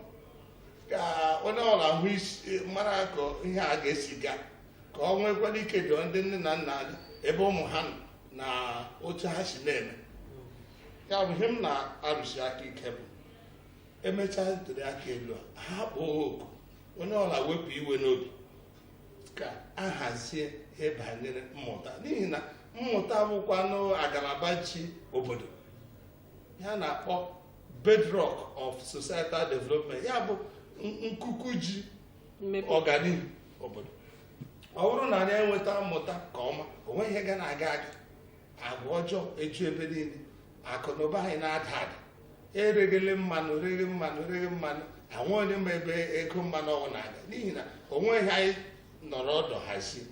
C: ka onye ọla hụ mara ka ihe a ga-esi gaa ka o nwekwara ike doo ndị nne na nna anya ebe ụmụ ha nọ na otu ha si na-eme ya bụ ihe m na-arụsi aka ike bụ emechaa ntuli aka elu a ha kpọọ oku onye ọla wepụ iwe n'obi ka a hazie ihe banyere mmụta n'ihi na mmụta bụkwanụ agalaba ji obodo ihe a na-akpọ bedrock of societal development ya bụ nkuku ji ọganihu obodo ọ bụrụ na anyị enweta mmụta ka ọma onweghị ihe ga na-aga aga agwa ọjọọ eju ebe niile akụ na ụba anyị na-ada ada ereghele mmanụ reghe mmanụ reghe mmanụ onweghị onye ma ebe ego mmanụ ahụ na-aga n'ihi na onweghị anyị nọrọ ọdụ hazie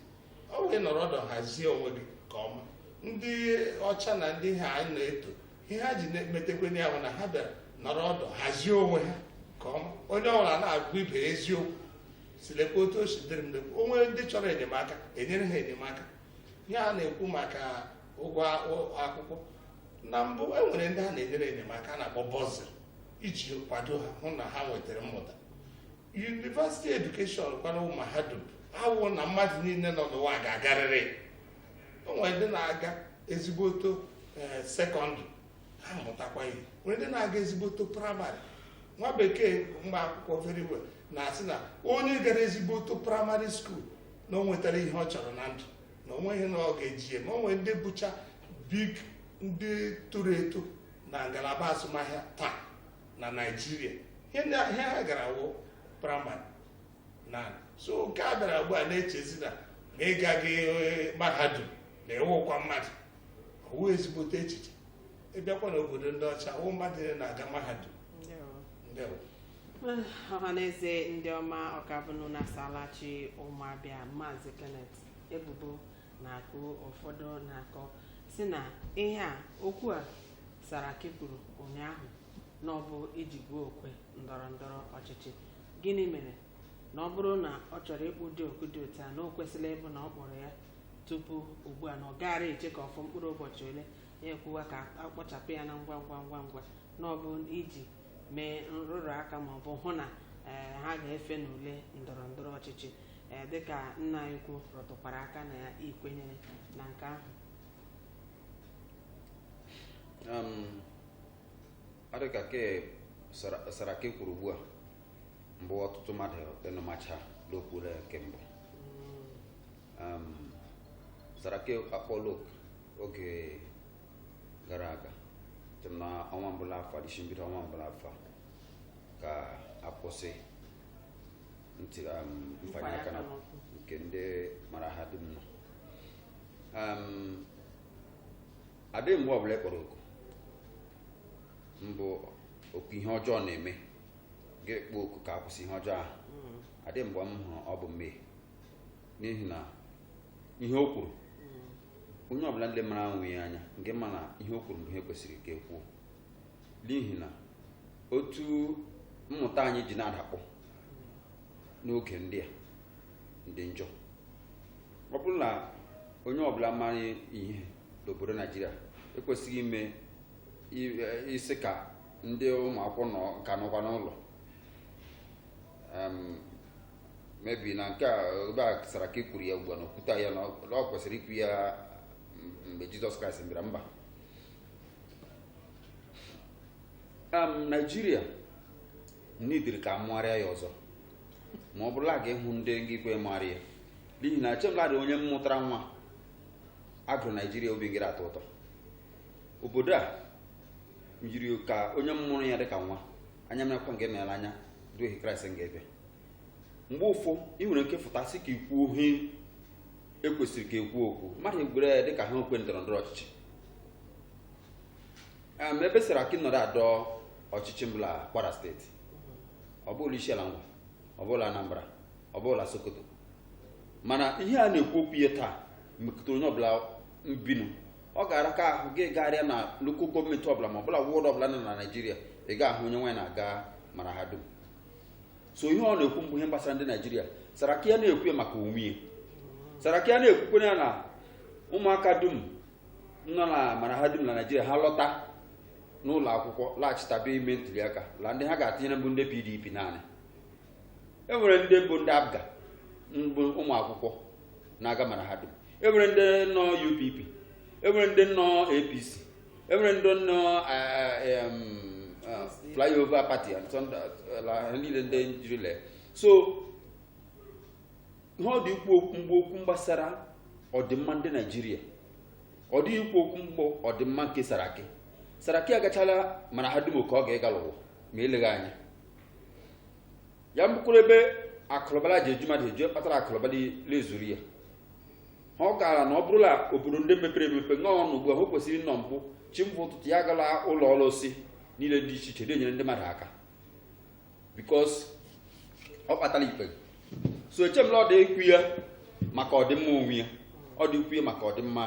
C: onwe nọrọ ọdụ hazie onwe gị nke ọma ndị ọcha na ndị a anyị na-eto ihe ha ji na-emetekwene ya bụ na ha bịara nọrọ ọdụ hazie onwe ha nke ọma onye ọbụla na-agwa ibe ya eziokwu sị lekwa otu o si dịrị m lekwa o nwee ndị chọrọ enyemaka e nyere ha enyemaka ihe a na-ekwu maka ụgwọ akwụkwọ na mbụ e nwere ndị a na-enyere enyemaka a na-akpọ bursary iji kwado ha hụ na ha nwetara mmụta university education kwanụ mahadum awụ na mmadụ niile nọ n'ụwa ga-agarịrị o nwere ndị na-aga ezigboto eh, sekọndịrị ha mụtakwa ihe nwere ndị na-aga ezigboto praịmarị nwa bekee ma akwụkwọ very well na-asị na onye gara ezigboto primary school na o nwetara ihe ọ chọrọ na ndụ na o nweghị na ọ ga-eji ya ma o nwere ndị bụcha big ndị toro eto na ngalaba azụmahịa taa na naijiria ihe ha gara wụ praịmarị na so nke a bịara ugbu a na-echezi na ma ị gaghị eh, mahadum na ị wụkwa mmadụ ọ wụ ezigbote echiche ị bịakwa n'obodo ndị ọcha wụ mmadụ niile na-aga mahadum
A: ndewo ọhaneze ndị ọma ọ ka bụ nụ na asalachi ụmụ abịa maazị kenneth ebubo na-akụ ụfọdụ na-akọ sị na ihe a okwu a Saraki kwuru ụnyaahụ na ọ bụ iji gbuo okwe ndọrọ ndọrọ ọchịchị gịnị mere na ọ bụrụ na ọ chọrọ ịkpọ ụdị oku dị otu a na o kwesịrị ịbụ na ọ kpọrọ ya tupu ugbu a na ọ gaara eche ka ọ fọ mkpụrụ ụbọchị ole ya ekwuwa ka a kpọchapụ ya na ngwa ngwa ngwa ngwa na ọ bụ iji mee nrụrụ aka ma ọ bụ hụ na ee, ha ga-efe n'ule ndọrọ ndọrọ ọchịchị ee, dịka nna anyị ukwu rụtụkwara aka na ya i kwenyere na nke ahụ
B: adịka ke saraki kwuru ugbu a mbụ ọtụtụ mmadụ enụmacha n'okwure kemgbe saraki akpọlụ oku oge gara aga site na ọnwa mbụ l'afọ adịchi mbido ọnwa mbụ l'afọ ka a kwụsị mfanye aka na nke ndị mara ha dum nọ adịghị mgbe ọbụla ị kpọrọ oku mbụ oku ihe ọjọọ na-eme ga-ekpo oku ka akwụsị ihe ọjọọ ahụ hmm. adịghị mgbe m hụrụ ọ bụ mmehie n'ihi na ihe o kwuru hmm. onye ọbụla ndị mara anwụ ya anya nke ma na ihe o kwuru bụ ihe kwesịrị ka ekwuo n'ihi na otu mmụta anyị ji na-adakpọ n'oge ndị a ndị njọ ọ bụrụ na onye ọbụla mara ihe n'obodo naijiria ekwesịghị ime isi ka ndị ụmụ akwụkwọ ka nọkwa n'ụlọ mebi na nke a ebe a saraki kwuru ya ugbu a na o kwuta ya na ọ kwesịrị ikwu ya mgbe jizọs kraịst bịara mba naijiria n'idiri ka amụgharịa ya ọzọ ma ọ bụrụla ga ịhụ ndị nga ikwe mụgharịa ya n'ihi na echemladị onye mmụtara nwa a gụrụ naijiria obi ngịrị atọ ụtọ obodo a yiri ka onye mmụrụ ya dịka nwa anya mekwa nke mere anya duhie kraịst nga ebe mgbe ụfụ ị nwere nke fụta sị ka ikwuo ihe ekwesịrị ka ekwu okwu mmadụ egwere ya dịka ha okwe ndọrọ ndọrọ ọchịchị Em, ebe Saraki nọrọ adọ ọchịchị mbụla Kwara steeti ọ bụla isiala ngwa ọ bụla Anambra ọ bụla Sokoto mana ihe a na-ekwu okwu ya taa mekụta onye ọbụla mbinu ọ ga-ara ka ahụ gị gagharịa na lokal gọọmenti ọbụla ma ọbụla wọdụ ọbụla nọ na Naịjirịa ị ga-ahụ onye nwa ya na-aga mara ha dum so ihe ọ na-ekwu mbụ ihe gbasara ndị Naịjirịa Saraki ya na-ekwu ya maka onwe ya Saraki ya na-ekwukwere ya na ụmụaka dum nọ na mara ha dum na naijiria ha lọta n'ụlọ akwụkwọ laghachitabe ime ntuliaka la ndị ha ga-atinyere mbụ ndị pdp naanị e nwere ndị bụ ndị apga mbụ ụmụ akwụkwọ na-aga mara ha dum e nwere ndị nọ upp e nwere ndị nọ apc e nwere ndị nọ eh, eh, em, eh, flyover party and sọnda- la- ha niile ndị njirila so ihe ọ dị ikwu mbụ okwu gbasara ọdịmma ndị naijiria ọ dịghị ikwu okwu mbụ ọdịmma nke saraki saraki agachala mara ha dum ka ọ ga-ịga l'ụwa ma eleghị anya ya mkpụrụ ebe akụlụba ji eju mmadụ eju kpatara akụlụba na-ezuru ya ha ọ gaara na ọ bụrụla obodo ndị mepere emepe ṅụọ ọnụ ugbu a o kwesịrị ịnọ mbụ chi fo ụtụtụ ya gaa l'ụlọ ọrụ osi niile dị iche iche na-enyere ndị mmadụ aka because ọ kpatara ikpe so eche m na ọ dị ikwu ya maka ọdịmma onwe ya ọ dị ikwu ya maka ọdịmma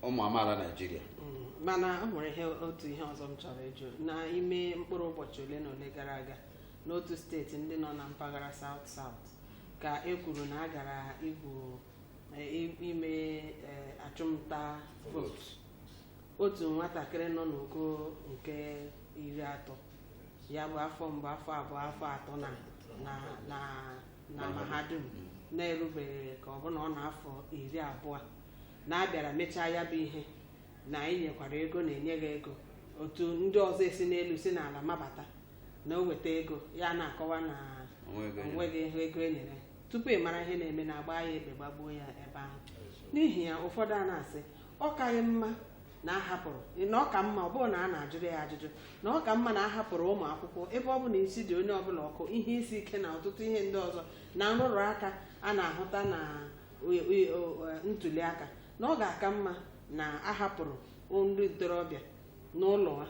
B: ụmụ amaala naijiria Mm, mana o
A: nwere ihe otu ihe ọzọ m chọrọ ịjụ n'ime mkpụrụ ụbọchị ole na ole gara aga n'otu steeti ndị nọ na mpaghara South South ka e kwuru na a gara igwu eh, i- ime eh, achụmnta vootu otu nwatakịrị nọ n'ogo nke iri atọ ya bụ afọ mbụ afọ abụọ afọ atọ na na na na mahadum na-erubeghị ka ọ bụ na ọ n'afọ iri abụọ na a bịara mechaa ya bụ ihe na e nyekwara ego na e nyeghị ego otu ndị ọzọ esi n'elu si n'ala mabata na o weta ego ya na-akọwa na o nweghị ego e nyere tupu ị mara ihe na-eme na a gbaa ya egbe gbagbuo ya ebe ahụ n'ihi ya ụfọdụ a na-asị ọ kaghị mma na a hapụrụ na ọ ka mma ọ bụrụ na a na-ajụrụ ya ajụjụ na ọ ka mma na a hapụrụ ụmụ akwụkwọ ebe ọ bụ na isi dị onye ọbụla ọkụ ihe isi ike na ọtụtụ ihe ndị ọzọ na nrụrụ aka a na-ahụta na e- e- o- e- ntuli aka na ọ ga-aka mma na a hapụrụ ndị ntorobịa n'ụlọ ha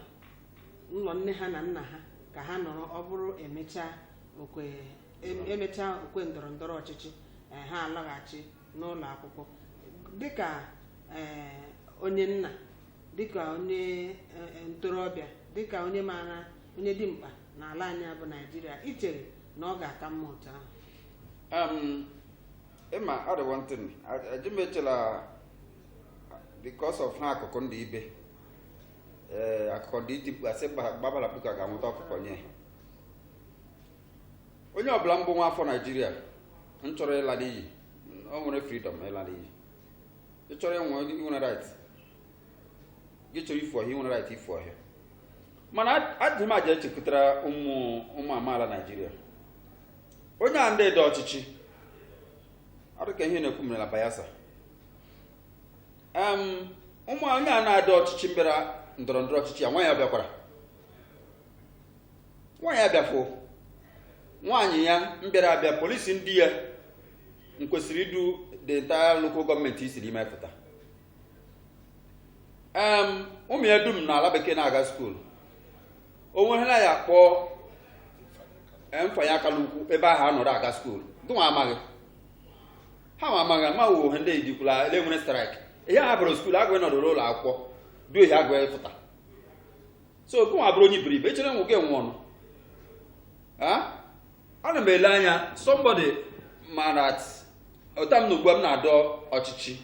A: ụlọ nne ha na nna ha ka ha nọrọ ọ bụrụ emechaa okwe em- emechaa okwe ndọrọ ndọrọ ọchịchị eh, ha alọghachi n'ụlọ akwụkwọ dịka ee, onye nna dịka onye ee, ntorobịa dịka onye maara onye dị mkpa n'ala anyị a bụ naijiria i chere na ọ ga-aka mma otu ahụ
B: Um, ịma ọ dị one thing e ji mechela because of ha akụkọ ndị ibe ee akụkọ ndị iti mkpu asị gba- gbabara mkpuke a ga-anwụta ọkụkọ nye ha onye ọbụla mbụ nwa afọ naijiria nchọrọ ịla n'iyi o nwere freedom ịla n'iyi ị chọrọ ịnwe i nwere right gị chọrọ ifu ọhịa i nwere right ifu ọhịa mana adịghị m aja echepụtara ụmụ ụmụ amaala naijiria onye a ndị adọ ọchịchị ọ dịka ihe na-ekwu mere na Bayelsa um onye a na-adọ ọchịchị mbịara ndọrọ ndọrọ ọchịchị ya nwa ya ọ bịakwara nwa ya abịafụ nwaanyị ya mbịara abịa polisi ndị ya nkwesịrị idu the entire local gọọmenti isiri ime pụta ụmụ ya dum n'ala bekee na-aga skuulu o nweghela ya kpọọ mfanye aka n'ukwu ebe ahụ nọdụ aga skuulu gịnwa amaghị ha ma amaghị ama wuo ha ndị ejikwula ele nwere straịkị ihe a bụrụ skuulu agụghị nọdụrụ ụlọ akwụkwọ duo ihe agụghị pụta so gụnwa bụrụ onye iberibe ị chọrọ ịnwụ gị anwụọ nụ ana m ele anya somebody mara ọta m na ugbu a m na-adọ ọchịchị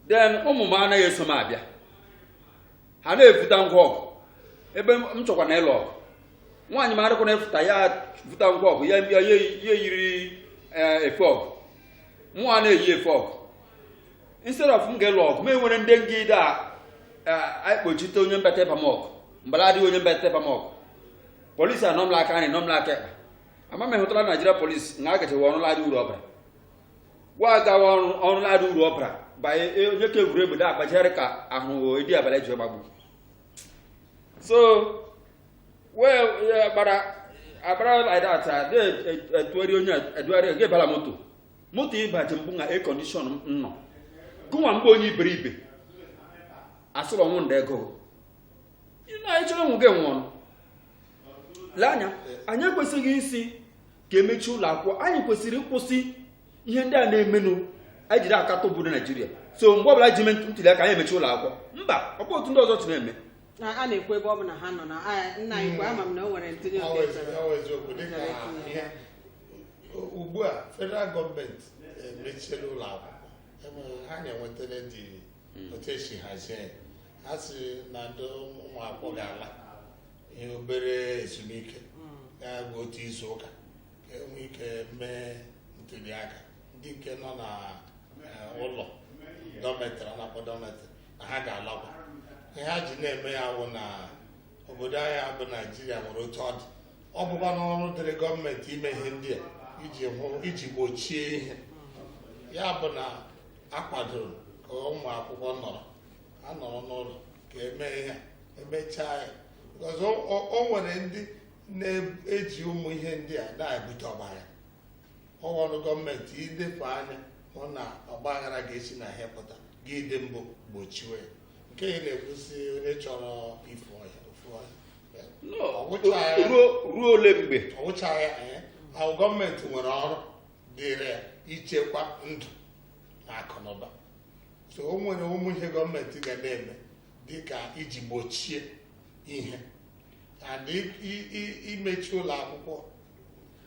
B: then ụmụ m anaghị eso m abịa ha na-efuta ngwa ọgụ ebe m chọkwa na ịlụ ọgụ nwaanyị m adịkwa na-efuta ya futa ngwa ọgụ ya ya eyiri efe ọgụ mụnwa na-eyi efe ọgụ instead of m ga-elụ ọgụ m enwere ndị ngide a akpochite onye mbata ịba m ọgụ mbara adịghị onye mbata ịba m ọgụ polisi anọ m la aka army nọ m la aka ekpe ama m hụtara naijiria polisi na agachewa ọrụ ladị uru ọbara gwa agawa ọrụ ọrụ ladị uru ọbara banye e, onye ka egwuru egbe na-agbajigharị ka ahụ edi abalị ji gbagbu so wee gbara agbara like that a na-etugharị onye edugharị ga-ebala moto moto ịbaji mbụ na ekondishọn m nọ gụnwa mgbe onye iberibe asụrụ ọnwụ ndị ego ịnọ anyị chọrọ ịnwụ gị anwụọ nụ lee anya anyị ekwesịghị ịsị ka emechi ụlọ akwụkwọ anyị kwesịrị ịkwụsị ihe ndị a na-emenụ anyị jiri akatọ obodo naijiria so mgbe ọbụla ji mee ntuli aka anyị emechi ụlọ akwụkwọ mba ọ bụ otu ndị ọzọ si na-eme na a na-ekwu ebe
A: ọ bụla ha nọ na a- nna anyị kwe ama m na o nwere ntụnye oke chọrọ Ọ bụ eziokwu, dịka ihe
C: ugbu a federal gọọmenti emechiela ụlọ akwụkwọ ihe anyị nwetara dị hmm. otu esi hazie ha sị na ndị ụmụ akwụkwọ ga-ala ihe obere ezumike hmm. ga-abụ otu izu ụka ka enwe ike mee ntuli aka ndị nke nọ na eh, ụlọ dọmetrị a na-akpọ dọmetrị na ha ga-alakwa ihe ha ji na-eme ya wụ na obodo anyị a bụ naijiria nwere otu ọ dị ọ bụkwanụ ọrụ dịrị gọọmenti ime ihe ndị a iji hụ iji gbochie ihe ya bụ na akwadoro ka ụmụ akwụkwọ nọrọ ha nọrọ n'ụlọ ka eme ihe emechaa ya ọzọ o nwere ndị na-eji ụmụ ihe ndị a na-ebute ọgbaghara ọ wụ ọrụ gọọmenti ilepụ anya hụ na ọgbaghara ga-esi na ihe pụta gị dị mbụ gbochiwe ya nke ị na-ekwu sị onye chọrọ ifu ọhịa o fuo ọhịa eh? No, Ọ wụcha ya. ruo ruo ole mgbe
B: ọ wụchara ya
C: eh, ahụ gọọmenti nwere ọrụ dịrị ya ichekwa ndụ na akụnụba so o nwere ụmụ ihe gọọmenti ga na-eme dịka iji gbochie ihe and i- i- i- imechi ụlọ akwụkwọ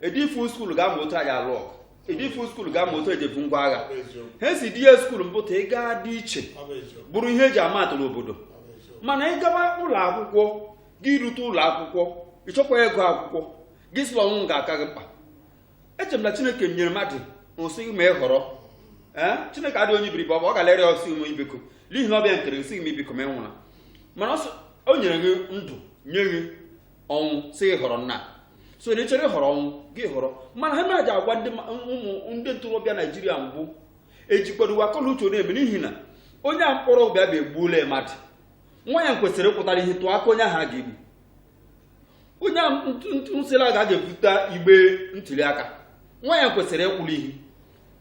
B: edifu skuul ga-ama otu e ji alụ ọgụ edifu skuul ga-ama otu e ji ebu ngwa agha ha si di ya skuul mpụta ị ga-adị iche bụrụ ihe eji ama atụ n'obodo mana ịgaba ụlọ akwụkwọ gị rute ụlọ akwụkwọ ịchọkwa ego akwụkwọ gị sị la ọnwụ ga-aka gị mkpa eche m na chineke nyere mmadụ nsị ma ị họrọ ee chineke adịghị onye iberibe ọ ga-alere ọsị ụmụ ibiko n'ihi na ọ bụ ya nkere nsị m ibiko ma ị nwụra mana o nyere gị ndụ nye gị ọnwụ sị họrọ nnaa so na ị chọrọ ịhọrọ ọnwụ gị họrọ mana ha na-aja agwa ndị ụmụ ndị ntorobịa naijiria mbụ ejikwadowe akọ la uche na-eme n'ihi na onye a mkpọrọ bịa bụ egbuola mmadụ nwa ya kwesịrị ịpụtara ihu tụọ aka onye ahụ a ga-egbu onye a ntụsịla ga ga-ebute igbe ntuli aka nwa ya kwesịrị ịkwụrụ ihu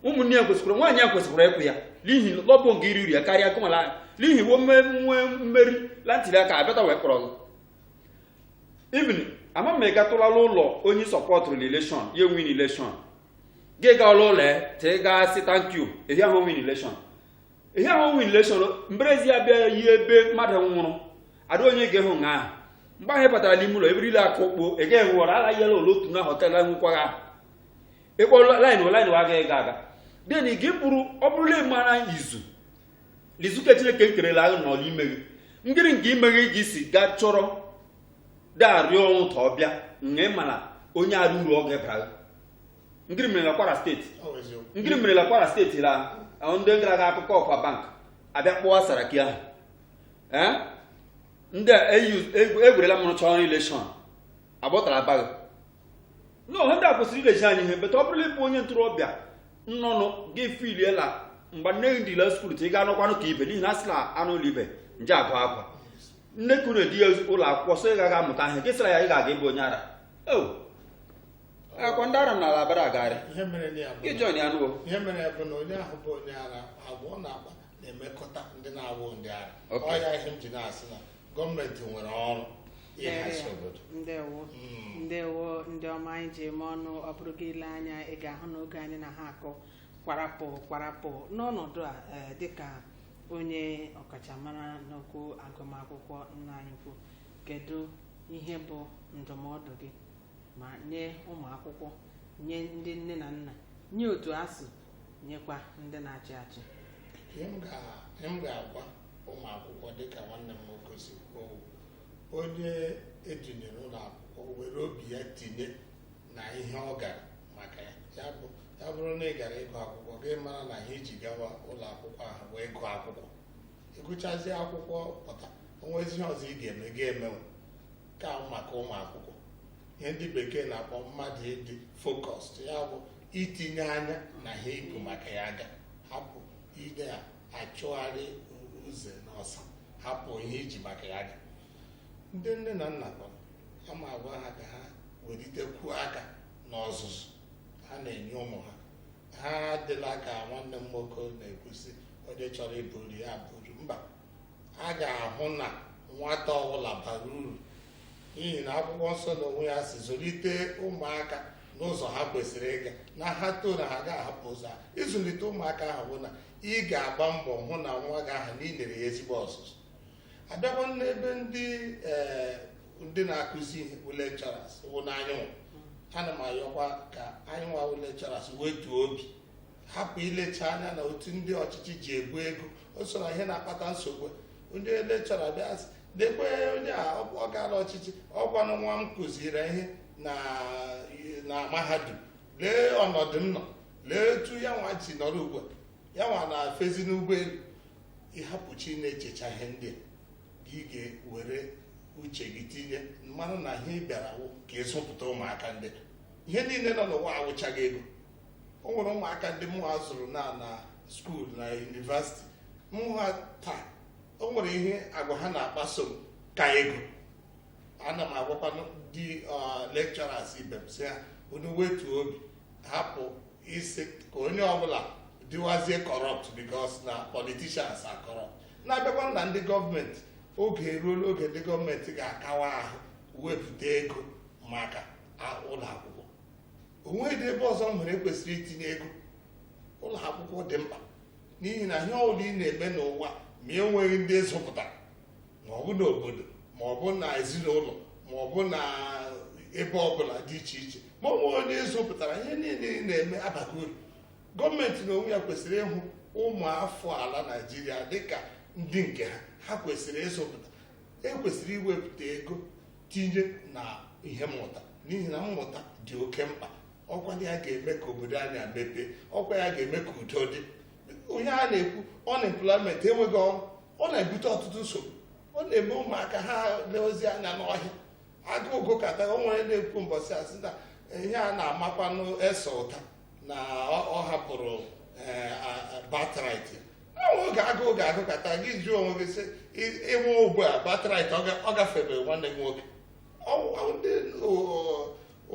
B: ụmụnne ya kwesịkwara nwaanyị ya kwesịkwara ịkwụ ya n'ihi la ọ bụ nga iri uru ya karịa kụmala n'ihi nwe mmeri la ntuli aka a bịata wee kpọrọ gị even ama m ị gatụla la ụlọ onye sọpọtụrụ na election ya win election gị gaala ụlọ ya tee gaa sị thank you ehi ahụ win election ehi ahụ win election mberezi ya bịa yi ebe mmadụ nwụrụ ada onye ga-ahụ nga ahụ mgbe ahụ ị batara n'ime ụlọ eberila aka ụkpo ị gaghị enwe ọrụ alaghị yala ụlọ otu na họtel enwekwaghị ahụ ị kpọọ line line wa agaghị ga aga then gị bụrụ ọ bụrụ la ị mara izu lizuke chineke nkere la ahụ nọ la ime gị ngịrị nke ime gị i ji si gaa chọrọ daarịọ ọnwụ ka ọ bịa nga ịmara onye arụ uru ọ ga-ebara ngịrị mere na kwara steeti ngịrị mere na kwara steeti la ahụ ndị gara aga akụkọ offa bank a bịa kpọwa saraki aha ee ndị a egwerela mụrụ chọrọ election agbọtara abaghị n'ihe ndị a kwesịrị ilezi anya ihe but ọ bụrụ la ị bụ onye ntorobịa nnọnụ gị filiela mgbe nne gị dịla skuul ta ị ga anọkwanụ ka ibe n'ihi na a sị na anụ ụlọ ibe nje agụ akwa nne ka unu di ya ụlọ akwụkwọ so ị gaghị amụta ihe gị sịra ya ị ga-aga ịbụ onye ara ọ kwa ndị ara n'ala aba na-agagharị ihe mere na ya bụ gị na- join ya nụwo ihe mere ya bụ na onye
C: ahụ bụ onye ara agwa ọ na-agba na-emekọta ndị na-awụ ndị ara Okay. ọ ya ihe m ji na-asị na gọọmenti nwere ọrụ ịhazi obodo ndewo hmm.
A: ndewo ndị ọma anyị ji eme ọnụ ọ bụrụ gị lee anya ị ga-ahụ na oge anyị na ha akọ kwarapụ kwarapụ n'ọnọdụ a eh, dịka onye ọkachamara n'okwu agụmakwụkwọ nna anyị ukwu kedu ihe bụ ndụmọdụ gị ma nye ụmụ akwụkwọ nye ndị nne na nna nye otu asuu nyekwa ndị na-achị achị ihe m ga-
C: ihe m ga-agwa ụmụ akwụkwọ dịka nwanne m nwoke si kwuo onye edunyere ụlọ akwụkwọ were obi ya tinye na ihe ọ gara maka ya ya bụ ya bụrụ na ị gara ịgụ akwụkwọ gị mara na ihe iji gawa ụlọ akwụkwọ ahụ wee gụọ akwụkwọ ịgụchazie akwụkwọ pụta onwezi ihe ọzọ ị ga-eme gị emewe nke ahụ maka ụmụ akwụkwọ ihe ndị bekee na-akpọ mmadụ ịdị focused ya bụ itinye anya na ihe ibu maka ya ga hapụ ide ya achụgharị uze na ọsa hapụ ihe iji maka ya ga ndị nne na nna kwa ama agwa ha ka ha welitekwuo aka n'ọzụzụ ha na-enye ụmụ ha ha adịla ka nwanne m nwoke na-ekwu sị onye chọrọ iburu ya buru mba a ga-ahụ na nwata ọbụla bara uru n'ihi na akwụkwọ nsọ na onwe ya si zụlite ụmụaka n'ụzọ ha kwesịrị ịga na ha too na ha ga-ahapụ ụzọ ha ịzụlite ụmụaka ahụ bụ na ị ga-agba mbọ hụ na nwa gị ahụ na ị nyere ya ezigbo ọzụzụ abịakwa n'ebe ndị ee ndị na-akụzi ihe wụ lecturers wụ na anyịnwa ana m ayọkwa ka anyịnwa wụ lecturers wetuo obi hapụ ilecha anya na otu ndị ọchịchị ji ebu ego o so na ihe na-akpata nsogbu onye lecturer bịa sị, lekwa onye a ọ gaala ọchịchị ọkwanụ nwa m kụziri ihe na na mahadum lee ọnọdụ m nọ lee etu ya nwa ji nọrọ ugbu a ya nwa na-afezi n'ụgbọelu ịhapụcha ịna-echecha ihe ndị a ị ga-ewere uche gị tinye mara na ihe ị bịara wụ ka ịzụpụta ụmụaka ndị a. ihe niile nọ n'ụwa awụchaghị ego o nwere ụmụaka ndị mụ nwa zụrụ na na school na university m hụ ha taa o nwere ihe agwa ha na-akpaso m ka ego ana m agwakwa ndị lecturers ibe m sị ha unu wetuo obi hapụ ịsị ka onye ọbụla dịwazie corrupt because na politicians are corrupt na-abịakwa na ndị gọọmenti oge eruola oge ndị gọọmenti ga-akawa ahụ wepụta ego maka ụlọ akwụkwọ onweghị ebe ọzọ m nwere e kwesịrị itinye ego ụlọ akwụkwọ dị mkpa n'ihi na ihe ọbụla ị na-eme n'ụwa ma e nweghị ndị ị zụpụtara ma ọ bụ n'obodo ma ọ bụ na ezinụlọ ma ọ bụ na ebe ọbụla dị iche iche ma ọ nweghị onye ị zụpụtara ihe niile ị na-eme abaghị uru gọọmenti na onwe ya kwesịrị ịhụ ụmụ afọ ala naijiria dịka ndị nke ha ha kwesịrị ịzụpụta e kwesịrị iwepụta ego tinye na ihe mmụta n'ihi na mmụta dị oke mkpa ọkwa ya ga-eme ka obodo anyị mepee ọkwa ya ga-eme ka udo dị ihe a na-ekwu unemployment enweghị ọrụ ọ na-ebute ọtụtụ nsogbu ọ na-eme ụmụaka ha leozi anya n'ọhịa agụụ gụkata o nwere na-ekwu mbọsị a sị na ihe a na-amakwanụ Esau ụta na ọ hapụrụ eh, birthright e nwee oge agụụ ga-agụkata gị jụọ onwe gị sị ịnwe ugbu a birthright ọ gafere nwanne gị nwoke ndị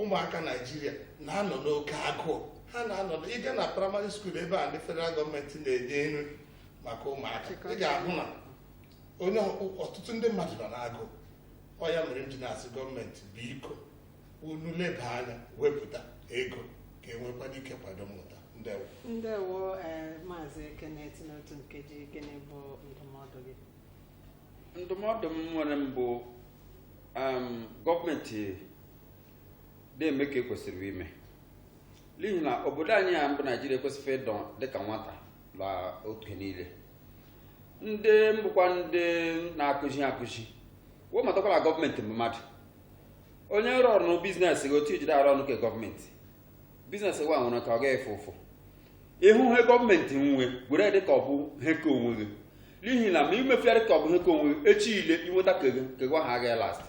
C: ụmụaka naijiria na-anọ n'oke agụụ ha na-anọ ị gaa na praịmarị skuul ebe a ndị federal gọọmenti na-enye nri maka ụmụaka ị ga-ahụ na o nwe ọtụtụ ndị mmadụ nọ n'agụụ ọ ya mere m ji na-asị gọọmenti biko unu leba anya wepụta ego ka e nwekwanụ ike kwado mmụta ndewo ndewo
A: ee maazị Kenneth n'ime otu nkeji gịnị bụ ndụmọdụ gị
B: ndụmọdụ m nwere mbụ um, gọọmenti na-eme ka ekwesịrị ime n'ihi na obodo anyị a mbụ naijiria ekwesịghị ịdị dịka nwata na oge niile ndị mbụkwa ndị na-akụzi akụzi wee matakwa la gọọmenti mbụ mmadụ onye rụọ ọrụ biznes gị otu i ji dị arụ ọrụ nke gọọmenti biznes wa nwere ka ọ gaghị efu efu ị hụ ihe gọọmenti nwe were dị ka ọ bụ ihe ke onwe gị n'ihi na ma i meghị ya dị ka ọ bụ ihe ke onwe gị echi ile i nweta ke gị ke gị ahụ agaghị last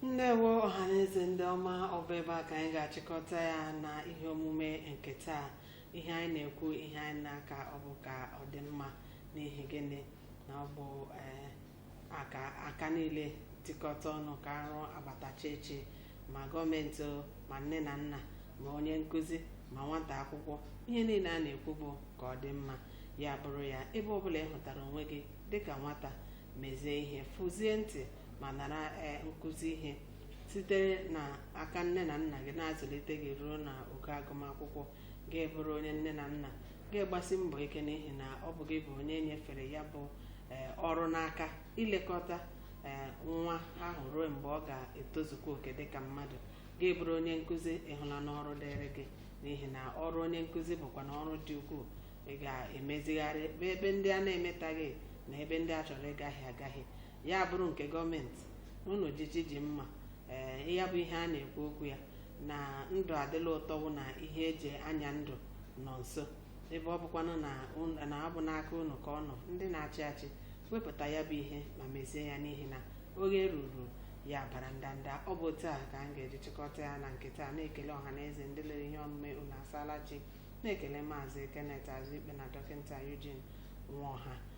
A: ndewo ọhaneze ndị ọma ọ bụ ebe a ka anyị ga-achịkọta ya na ihe omume nke taa ihe anyị na-ekwu ihe anyị na-akọ bụ ka ọ dị mma n'ihi gịnị na ọ bụ eh, aka aka niile tikọta ọnụ ka arụ agbatacha echi ma gọọmenti o, ma nne na nna ma onye nkụzi ma nwata akwụkwọ ihe niile a na-ekwu bụ ka ọ dị mma ya bụrụ ya ebe ọbụla ị hụtara onwe gị dịka nwata mezie ihe fụzie ntị ma nara eh, nkụzi ihe sitere na aka nne na nna gị na-azụlite gị ruo na ogo agụmakwụkwọ gị abụrụ onye nne na nna gị agbasie mbọ ike n'ihi na ọ bụ gị bụ onye e nyefere ya bụ ee, ọrụ n'aka ilekọta ee, nwa ahụ ruo mgbe ọ ga-etozukwa oke dịka mmadụ gị abụrụ onye nkụzi ị hụla n'ọrụ dịrị gị n'ihi na ọrụ onye nkụzi bụkwa na ọrụ dị ukwuu ị ga-emezigharị ebe ebe ndị a na-emetaghị na ebe ndị a chọrọ ịgahie agahie ya bụrụ nke gọọmenti unu ji ji ji mma ee ya bụ ihe a na-ekwu okwu ya na ndụ adịla ụtọ wụ na ihe e ji anya ndụ nọ nso ebe ọ bụkwanụ na un- na ọ bụ n'aka unu ka ọ nọ ndị na-achị achị wepụta ya bụ ihe ma mezie ya n'ihi na oge ruru ya bara ndanda ọ bụ otu a ka m ga-eji chịkọta ya na nke taa na-ekele ọha na eze ndị lere ihe omume unu asaala chi na-ekele maazị Kenneth Azụikpe na dọkịta Eugene Nwaọha